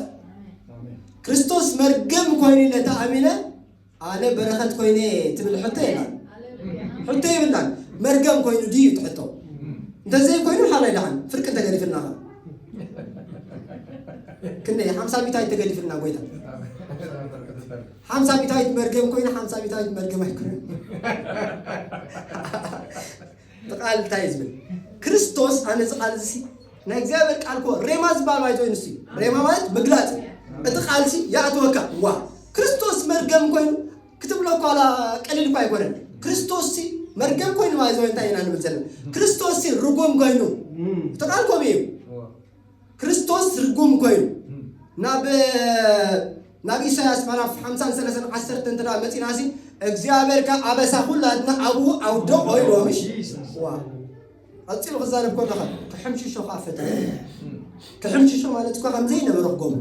ክርስቶስ መርገም ኮይኑ ኢለ ተኣሚነ ኣነ በረኸት ኮይነ ትብል ሕቶ የላን ሕቶ ይብላን መርገም ኮይኑ ድዩ እቲ ሕቶ እንተዘይ ኮይኑ ሓላይ ደሓን ፍርቂ እንተገዲፍልና ኸ ክንደይ ሓምሳ ሚታይ ተገዲፍልና ጎይታ ሓምሳ ሚታዊት መርገም ኮይኑ ሓምሳ ሚታዊት መርገም ኣይኮነ እቲ ቃል እንታይ እዩ ዝብል? ክርስቶስ ኣነ እዚ ቃል እዚ ናይ እግዚኣብሔር ቃል ኮ ሬማ ዝበሃል ማይቶ እዩ ንሱ ሬማ ማለት ምግላፅ እዩ። እቲ ቃል እዚ ይኣትወካ ዋ ክርስቶስ መርገም ኮይኑ ክትብሎ ኳላ ቀሊል እኳ ኣይኮነን። ክርስቶስ ሲ መርገም ኮይኑ ማይዞ እንታይ ኢና ንብል ዘለና? ክርስቶስ ሲ ርጉም ኮይኑ እቲ ቃል ከምኡ እዩ። ክርስቶስ ርጉም ኮይኑ ናብ ናብ ኢሳያስ ምዕራፍ ሓምሳን ሰለሳን ዓሰርተ እንተ ደኣ መጺእናሲ እግዚኣብሔር ከ ኣበሳ ኩላትና ኣብኡ ኣውደቖ ኢልዎ ምሽ ዋ ቀጺሉ ክዛረብ ከሎ ከ ክሕምሽሾ ከኣ ፈተነ ክሕምሽሾ ማለት እኳ ከም ዘይነበረ ክገብሮ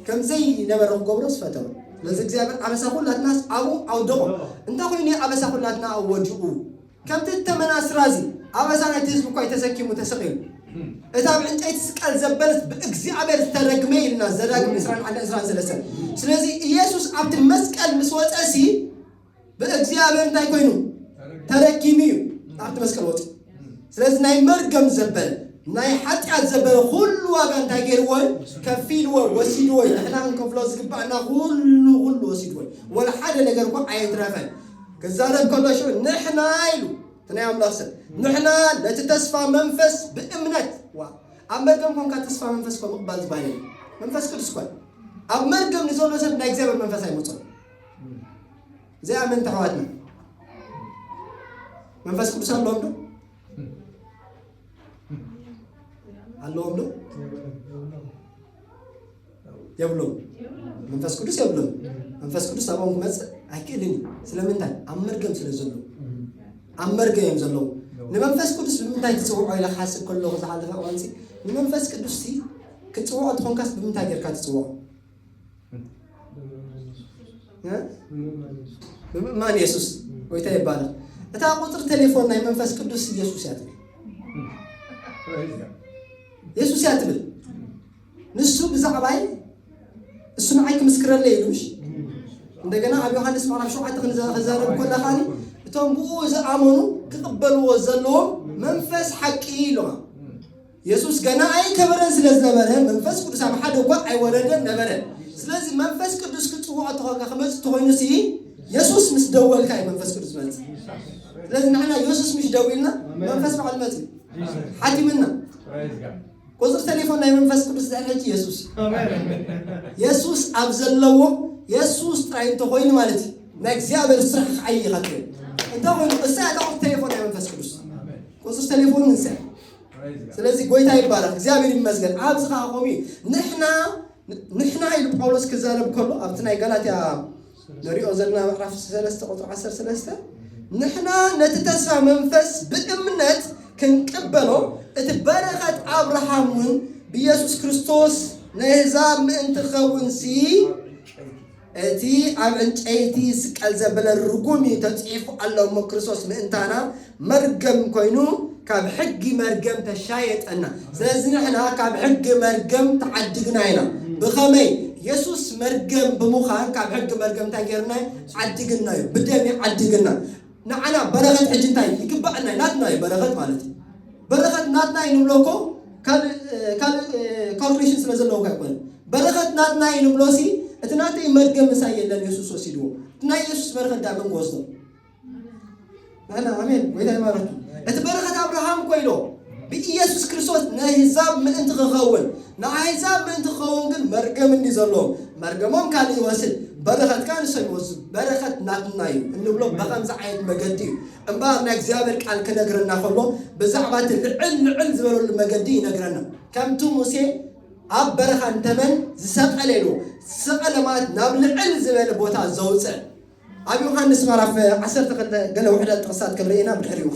ከም ዘይነበረ ክገብሮስ ፈተኑ ስለዚ እግዚኣብሔር ኣበሳ ኩላትናስ ኣብኡ ኣውደቖ እንታይ ኮይኑ ኣበሳ ኩላትና ወዲቑ ከምቲ እቲ ተመናስራ እዚ ኣበሳ ናይቲ ህዝቢ እኳይ ተሰኪሙ ተሰቂሉ እቲ ኣብ ዕንጨይቲ ስቀል ዘበልስ ብእግዚኣብሔር ዝተረግመ እዩ ኢልና ዘዳግም ዕስራን ሓደን ዕስራን ሰለስተን ስለዚ ኢየሱስ ኣብቲ መስቀል ምስ ወፀ ሲ ብእግዚኣብሔር እንታይ ኮይኑ ተረጊሙ እዩ ኣብቲ መስቀል ወፂ ስለዚ ናይ መርገም ዘበለ ናይ ሓጢኣት ዘበለ ኩሉ ዋጋ እንታይ ገይርዎ እዩ ከፊልዎ ወሲድዎ እዩ ንሕና ክንከፍሎ ዝግባእና ኩሉ ኩሉ ወሲድዎ እዩ ወላ ሓደ ነገር እኳ ኣየትረፈን ክዛረብ ከሎ ሽዑ ንሕና ኢሉ እቲ ናይ ኣምላኽ ሰብ ንሕና ነቲ ተስፋ መንፈስ ብእምነት ዋ ኣብ መርገም ኮንካ ተስፋ መንፈስ እኳ ምቕባል ዝበሃል የለን። መንፈስ ቅዱስ እኳ ኣብ መርገም ንዘሎ ሰብ ናይ እግዚኣብሔር መንፈስ ኣይመፅኦ ዘይኣመንቲ ኣሕዋትና መንፈስ ቅዱስ ኣለዎም ዶ ኣለዎም ዶ የብሎም መንፈስ ቅዱስ የብሎም መንፈስ ቅዱስ ናብኦም ክመፅእ ኣይክእልን እዩ ስለምንታይ ኣብ መርገም ስለ ዘሎ ኣብ መርገም እዮም ዘለዉ ንመንፈስ ቅዱስ ብምንታይ ትፅውዖ ኢለ ክሓስብ ከለኹ ዝሓለፈ እዋንሲ ንመንፈስ ቅዱስ ሲ ክትፅውዖ እንትኾንካስ ብምንታይ ጌርካ ትፅውዖ እ? ብምእማን የሱስ ጎይታ ይባላል እታ ቁፅሪ ቴሌፎን ናይ መንፈስ ቅዱስ ኢየሱስ እያ ትብል ኢየሱስ እያ ትብል ንሱ ብዛዕባይ እሱ ንዓይ ክምስክረለይ ኢሉ እሺ እንደገና ኣብ ዮሐንስ ምዕራፍ ሸውዓተ ክንዘረብ ኮና ካኒ እቶም ብኡ ዝኣመኑ ክቕበልዎ ዘለዎም መንፈስ ሓቂ ኢሉዋ የሱስ ገና ኣይከበረን ስለ ዝነበረ መንፈስ ቅዱስ ኣብ ሓደ እኳ ኣይወረደን ነበረ ስለዚ መንፈስ ቅዱስ ክፅውዖ ተኾንካ ክመፅእ ተኮይኑ ሲ የሱስ ምስ ደወልካ እዩ መንፈስ ቅዱስ መፅእ ስለዚ ንሕና የሱስ ምሽ ደዊልና መንፈስ በዓል መፅእ ሓቲምና ቁፅሪ ቴሌፎን ናይ መንፈስ ቅዱስ ድሕሪ ሕጂ የሱስ የሱስ ኣብ ዘለዎ የሱስ ጥራይ እንተኮይኑ ማለት እዩ ናይ እግዚኣብሔር ስራሕ ክዓይ ኢኻ ትብል እንተኮይኑ እሳ እታ ቁፅሪ ቴሌፎን ናይ መንፈስ ቅዱስ ቁፅሪ ቴሌፎን እንስያ ስለዚህ ጎይታ ይባረክ እግዚኣብሔር ይመስገን ኣብዚ ከዓ ቆሚ ንሕና ንሕና ኢሉ ጳውሎስ ክዛረብ ከሎ ኣብቲ ናይ ጋላትያ ንሪኦ ዘለና ምዕራፍ ሰለስተ ቁፅሪ ዓሰርተ ሰለስተ ንሕና ነቲ ተስፋ መንፈስ ብእምነት ክንቅበሎ እቲ በረኸት ኣብርሃም እውን ብኢየሱስ ክርስቶስ ናይ ኣሕዛብ ምእንቲ ኸውንሲ እቲ ኣብ ዕንጨይቲ ዝስቀል ዘበለ ርጉም እዩ ተጽሒፉ ኣሎ እሞ ክርስቶስ ምእንታና መርገም ኮይኑ ካብ ሕጊ መርገም ተሻየጠና ስለዚ ንሕና ካብ ሕጊ መርገም ተዓድግና ኢና ብኸመይ የሱስ መርገም ብምዃን ካብ ሕጊ መርገም እንታይ ጌርና ዓድግና እዩ ብደም እዩ ዓድግና ንዓና በረኸት ሕጂ እንታይ ይግባኣና ናትና እዩ በረኸት ማለት እዩ በረኸት ናትና እዩ ንብሎ እኮ ካልኩሌሽን ስለ ዘለውካ ኣይኮነ በረኸት ናትና እዩ ንብሎ ሲ እቲ ናተይ መርገም ምሳይ የለን የሱስ ወሲድዎ እቲ ናይ የሱስ በረኸት ዳግም ክወስዶ ናና ኣሜን ጎይታ ይባረኪ እቲ በረኸት ኣብርሃም ኮይኖ ብኢየሱስ ክርስቶስ ንኣህዛብ ምእንቲ ክኸውን ንኣህዛብ ምእንቲ ክኸውን ግን መርገም እንዲ ዘለዎም መርገሞም ካልእ ይወስድ በረኸት ካ ንሶም ይወስዱ በረኸት ናትና እዩ እንብሎ ብኸምዚ ዓይነት መገዲ እዩ እምበኣር ናይ እግዚኣብሔር ቃል ክነግረና ከሎ ብዛዕባ እቲ ልዕል ልዕል ዝበለሉ መገዲ ይነግረና ከምቲ ሙሴ ኣብ በረኻ እንተመን ዝሰቐለ ኢሉ ዝሰቐለ ማለት ናብ ልዕል ዝበለ ቦታ ዘውፅእ ኣብ ዮሃንስ ምዕራፍ ዓሰርተ ክልተ ገለ ውሕዳት ጥቕስታት ክንርኢ ኢና ብድሕሪኡ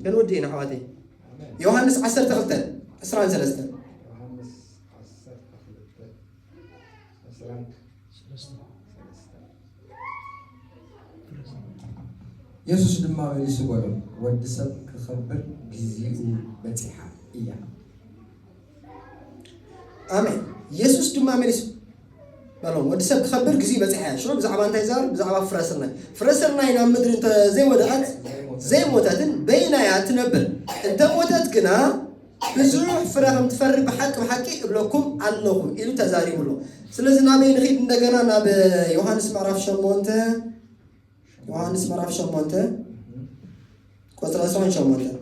ክንውድእ ኢና ኣሕዋተይ ዮሃንስ ዓሰርተ ክልተ ዕስራን ሰለስተን ዮሃንስ ዓሰርተ ክልተ ዕስራን የሱስ ድማ መሊሱ በሎ ወዲ ሰብ ክኸብር ግዜኡ በጺሓ እያ ኣሜን። የሱስ ድማ መሊሱ በሎም፣ ወዲ ሰብ ክኸብር ግዜ በፂሓ እያ። ሽዑ ብዛዕባ እንታይ ይዛረብ? ብዛዕባ ፍረ ስርናይ። ፍረ ስርናይ ናብ ምድሪ እንተ ዘይወደቐት ዘይሞተትን በይና እያ እትነብር፣ እንተ ሞተት ግና ብዙሕ ፍረ ከም ትፈሪ ብሓቂ ብሓቂ እብለኩም ኣለኹ ኢሉ ተዛሪቡ ኣሎ። ስለዚ ናበይ ንኺድ? እንደገና ናብ ዮሃንስ ምዕራፍ ሸሞንተ ዮሃንስ ምዕራፍ ሸሞንተ ቁፅሪ ዕስራን ሸሞንተን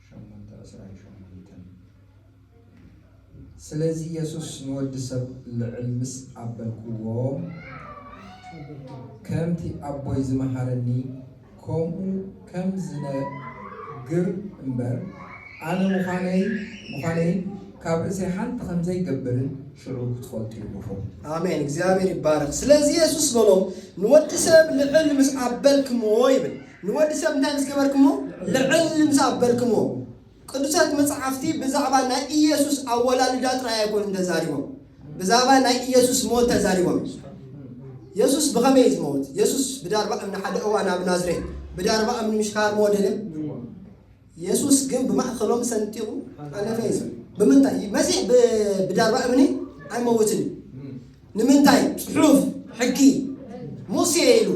ሸሞንተ ዕስራን ሸሞንተን ስለዚ የሱስ ንወዲ ሰብ ልዕል ምስ ኣበልክዎ ከምቲ ኣቦይ ዝመሃረኒ ከምኡ ከም ዝነግር እምበር ኣነ ምዃነይ ምዃነይን ካብ ርእሰይ ሓንቲ ከም ዘይገብርን ሽዑ ክትፈልጡ ኢኹም። ኣሜን እግዚኣብሔር ይባረክ ስለዚ የሱስ በሎም ንወዲ ሰብ ልዕል ምስ ኣበልክምዎ ይብል ንወዲ ሰብ እንታይ ምስ ገበርክምዎ ልዕል ምስ ኣበልክምዎ ቅዱሳት መጻሕፍቲ ብዛዕባ ናይ ኢየሱስ ኣወላልዳ ጥራይ ኣይኮኑን ተዛሪቦም፣ ብዛዕባ ናይ ኢየሱስ ሞት ተዛሪቦም እዮም። የሱስ ብኸመይ እዩ ዝመውት? የሱስ ብዳርባ እምኒ ሓደ እዋን ኣብ ናዝሬት ብዳርባ እምኒ ምሽ ካርሞ ደለ የሱስ ግን ብማእከሎም ሰንጢቑ ኣለፈ እዩ። ብምንታይ መሲሕ ብዳርባ እምኒ ኣይመውትን እዩ። ንምንታይ ጽሑፍ ሕጊ ሙሴ ኢሉ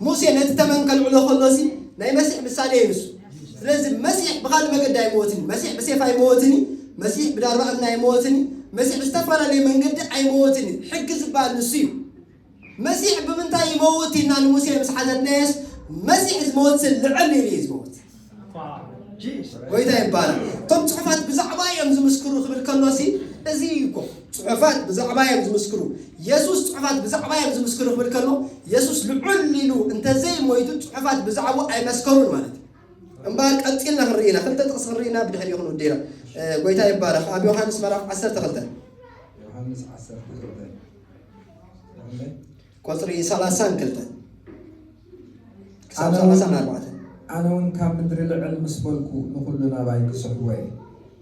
ሙሴ ነቲ ተመን ከልዕሎ ከሎ ሲ ናይ መሲሕ ምሳሌ እዩ ንሱ ስለዚ መሲሕ ብካልእ መገዲ ኣይመወትን መሲሕ ብሴፍ ኣይመወትን እዩ መሲሕ ብዳርባ እምኒ ኣይመወትን እዩ መሲሕ ብዝተፈላለየ መንገዲ ኣይመወትን እዩ ሕጊ ዝበሃል ንሱ እዩ መሲሕ ብምንታይ ይመውት ኢልና ንሙሴ ምስ ሓተትናዮስ መሲሕ ዝመወት ልዕል ኢሉ እዩ ዝመውት ጎይታ ይባረክ። እቶም ፅሑፋት ብዛዕባ እዮም ዝምስክሩ ክብል ከሎሲ እዚ እዩ እኮ ፅሑፋት ብዛዕባ እዮም ዝምስክሩ። የሱስ ፅሑፋት ብዛዕባ እዮም ዝምስክሩ ክብል ከሎ የሱስ ልዑል ኢሉ እንተዘይ ሞይቱ ፅሑፋት ብዛዕቡ ኣይመስከሩን ማለት እዩ። እምበኣር ቀፂልና ክንርኢ ኢና። ክልተ ጥቕሲ ክንርኢ ኢና ብድሕሪ ክንውዲ ኢና። እ፣ ጎይታ ይባረክ። ኣብ ዮሃንስ ምዕራፍ 12 ዮሐንስ 12 ቁጽሪ 32 ክሳብ ሰላሳ ንኣርባዕተ። ኣነ እውን ካብ ምድሪ ልዕል ምስ በልኩ ንዅሉ ናባይ ክስሕቦ እየ።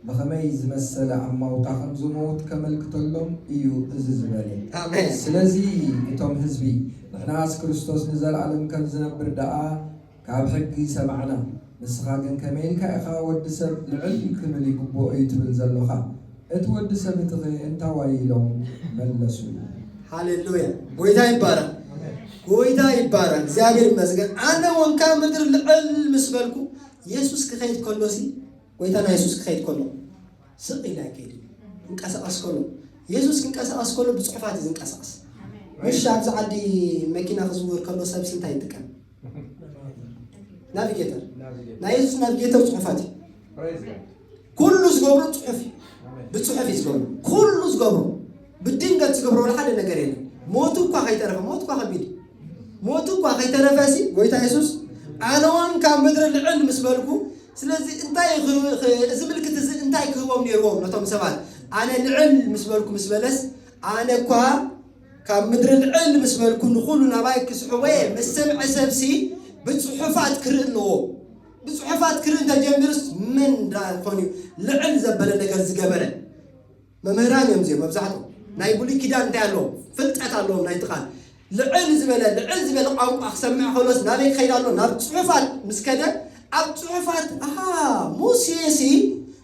ብኸመይ ዝመሰለ ኣማውታ ኸም ዝመውት ኬመልክተሎም እዩ እዚ ዝበለ። ኣሜን። ስለዚ፣ እቶም ህዝቢ፣ ንሕናስ ክርስቶስ ንዘለኣለም ከም ዚነብር ደኣ ካብ ሕጊ ሰማዕና። ንስኻ ግን ከመይ ኢልካ ኢኻ ወዲ ሰብ ልዕል ክብል ይግብኦ እዩ ትብል ዘሎኻ? እቲ ወዲ ሰብ እቲኸ እንታ ዋይ ኢሎም መለሱ? ሃሌሉያ ጎይታ ይባረኽ ጎይታ ይባረኽ እግዚኣብሔር ይመስገን ኣነ እውን ካብ ምድሪ ልዕል ምስ በልኩ የሱስ ክኸይድ ከሎ ሲ ጎይታና የሱስ ክኸይድ ከሎ ስቕ ኢለ ኣይከይድ ክንቀሳቐስ ከሎ የሱስ ክንቀሳቐስ ከሎ ብፅሑፋት እዩ ዝንቀሳቐስ ምሽ ኣብዚ ዓዲ መኪና ክዝውር ከሎ ሰብሲ እንታይ ይጥቀም ናቪጌተር ናይ የሱስ ናቪጌተር ፅሑፋት እዩ ኩሉ ዝገብሮ ፅሑፍ እዩ ብፅሑፍ እዩ ዝገብሮ ኩሉ ዝገብሮ ብድንገት ዝገብሮ ሓደ ነገር የለን ሞቱ እኳ ከይተረፈ ሞት እኳ ከቢድ እዩ ሞቱ እኳ ከይተረፈ ሲ ጎይታ የሱስ ኣነውን ካብ ምድሪ ልዕል ምስ በልኩ ስለዚ እንታይ ክህ- ክ- እዚ ምልክት እዚ እንታይ ክህቦም ነይርዎም ነቶም ሰባት ኣነ ልዕል ምስ በልኩ ምስ በለስ ኣነ እኳ ካብ ምድሪ ልዕል ምስ በልኩ ንኹሉ ናባይ ክስሕቦ እየ። ምስ ሰምዐ ሰብሲ ብጽሑፋት ክርኢ ኣለዎ። ብጽሑፋት ክርኢ እንተጀሚሩስ መን ደኣ ኮን እዩ ልዕል ዘበለ ነገር ዝገበረ? መምህራን እዮም እዚኦም መብዛሕትኦም። ናይ ብሉይ ኪዳን እንታይ ኣለዎም? ፍልጠት ኣለዎም ናይቲ ቃል። ልዕል ዝበለ ልዕል ዝበለ ቋንቋ ክሰምዕ ከሎስ ናበይ ክኸይድ ኣሎ? ናብ ጽሑፋት ምስ ከደ ኣብ ጽሑፋት ኣሃ ሙሴሲ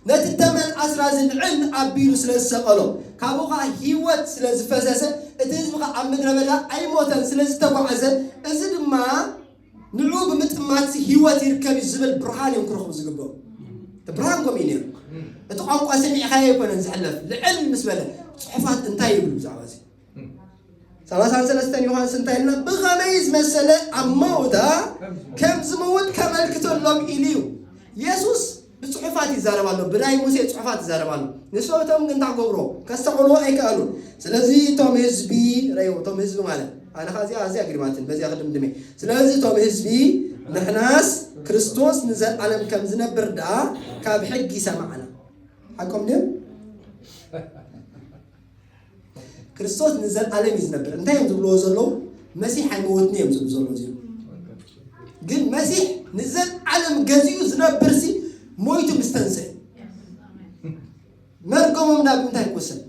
ነቲ ተመን ኣስራ ዝልዕል ኣቢሉ ስለ ዝሰቐሎ ካብኡ ኸኣ ህይወት ስለ ዝፈሰሰ እቲ ህዝቢ ኸኣ ኣብ ምድረ በዳ ኣይሞተን ስለ ዝተጓዕዘ እዚ ድማ ንዕኡ ብምጥማትሲ ህይወት ይርከብ እዩ ዝብል ብርሃን እዮም ክረኽቡ ዝግብኦም እቲ ብርሃን ከምኡ እዩ ነይሩ እቲ ቋንቋ ሰሚዕኻዮ ኣይኮነን ዝሕለፍ ልዕል ምስ በለ ጽሑፋት እንታይ ይብሉ ብዛዕባ እዚ ሰላሳን ሰለስተን ዮሃንስ እንታይ ኢልና ብኸመይ ዝመሰለ ኣብ መውታ ከም ዝመውት ከመልክተሎም ኢሉ እዩ የሱስ ብፅሑፋት ይዛረብ ኣሎ ብናይ ሙሴ ፅሑፋት ይዛረብ ኣሎ ንሰብቶም ግን እንታይ ገብሮ ከስተውዕልዎ ኣይከኣሉን ስለዚ እቶም ህዝቢ ረዮ እቶም ህዝቢ ማለት ኣነ ካ እዚኣ ኣዝያ ግሪማትን በዚያ ክድምድመ ስለዚ እቶም ህዝቢ ንሕናስ ክርስቶስ ንዘለዓለም ከም ዝነብር ደኣ ካብ ሕጊ ሰማዕና ሓቆም ድም ክርስቶስ ንዘለኣለም እዩ ዝነብር እንታይ እዮም ዝብልዎ ዘለዉ መሲሕ ኣይመወትኒ እዮም ዝብሉ ዘለዉ እዚኦም ግን መሲሕ ንዘለኣለም ገዚኡ ዝነብር ሲ ሞይቱ ምስ ተንስአ መርገሞም ናብ እንታይ ክውሰድ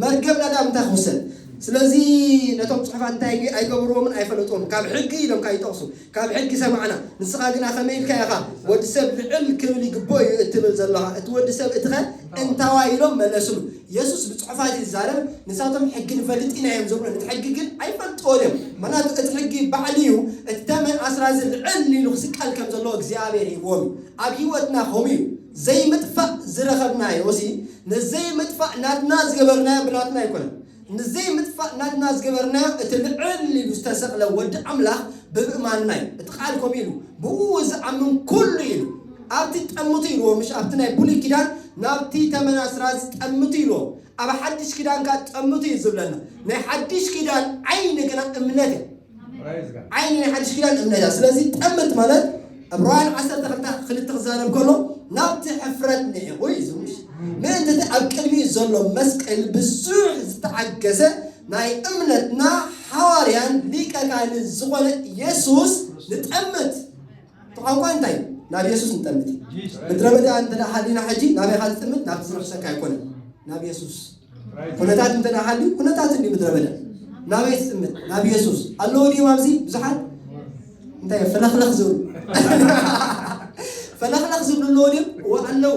መርገምና ናብ እንታይ ክውሰድ ስለዚ ነቶም ፅሑፋት እንታይ ኣይገብርዎምን ኣይፈለጥዎም ካብ ሕጊ ኢሎም ካብ ይጠቕሱ ካብ ሕጊ ሰማዕና ንስኻ ግና ከመይ ኢልካ ኢኻ ወዲ ሰብ ልዕል ክብል ይግብኦ እዩ እትብል ዘሎኻ እቲ ወዲ ሰብ እቲ ከ እንታዋይ ኢሎም መለስሉ የሱስ ብጽሑፋት እዩ ዝዛረብ ንሳቶም ሕጊ ንፈልጥ ኢና እዮም ዝብሉ ነቲ ሕጊ ግን ኣይፈልጥዎን እዮም ምክንያቱ እቲ ሕጊ ባዕሉ እዩ እቲ ተመን ኣስራዚ ልዕል ኢሉ ክስቀል ከም ዘለዎ እግዚኣብሔር ሂብዎም እዩ ኣብ ህይወትና ከምኡ እዩ ዘይምጥፋእ ዝረኸብናዮ እሲ ነዘይምጥፋእ ናትና ዝገበርናዮ ብናትና ኣይኮነን ንዘይ ምጥፋእ ናትና ዝገበርናዮ እቲ ልዕል ኢሉ ዝተሰቅለ ወዲ ኣምላኽ ብምእማንና እዩ። እቲ ቃል ከምኡ ኢሉ ብእኡ ዝኣምን ኩሉ ኢሉ ኣብቲ ጠምቱ ኢልዎ ምሽ ኣብቲ ናይ ብሉይ ኪዳን ናብቲ ተመን ኣስራዚ ጠምቱ ኢልዎ ኣብ ሓድሽ ኪዳን ከኣ ጠምቱ እዩ ዝብለና ናይ ሓድሽ ኪዳን ዓይኒ ግና እምነት እያ። ዓይኒ ናይ ሓድሽ ኪዳን እምነ እያ ስለዚ ጠምት ማለት ዕብራውያን ዓሰርተ ክልተ ክልተ ክዛረብ ከሎ ናብቲ ሕፍረት ንዒቑ እዩ ዝምሽ ምእንቲ እቲ ኣብ ቅድሚኡ ዘሎ መስቀል ብዙሕ ዝተዓገሰ ናይ እምነትና ሓዋርያን ሊቀ ካህንን ዝኾነ ኢየሱስ ንጠምት እቲ ቋንቋ እንታይ እዩ? ናብ የሱስ ንጠምት። ምድረ በዳ እንተ ሃሊና ሕጂ ናበይ ኢኻ ትጥምት? ናብቲ ዝርሕሰካ ኣይኮነን፣ ናብ የሱስ። ኩነታት እንተ ሃልዩ ኩነታት እንዲ ምድረ በዳ ናበይ ትጥምት? ናብ የሱስ። ኣለዎ ድዮም ኣብዚ ብዙሓት እንታይ እዮም ፈለኽለኽ ዝብሉ ፈለኽለኽ ዝብሉ ኣለዎ ድዮም? እወ ኣለዉ።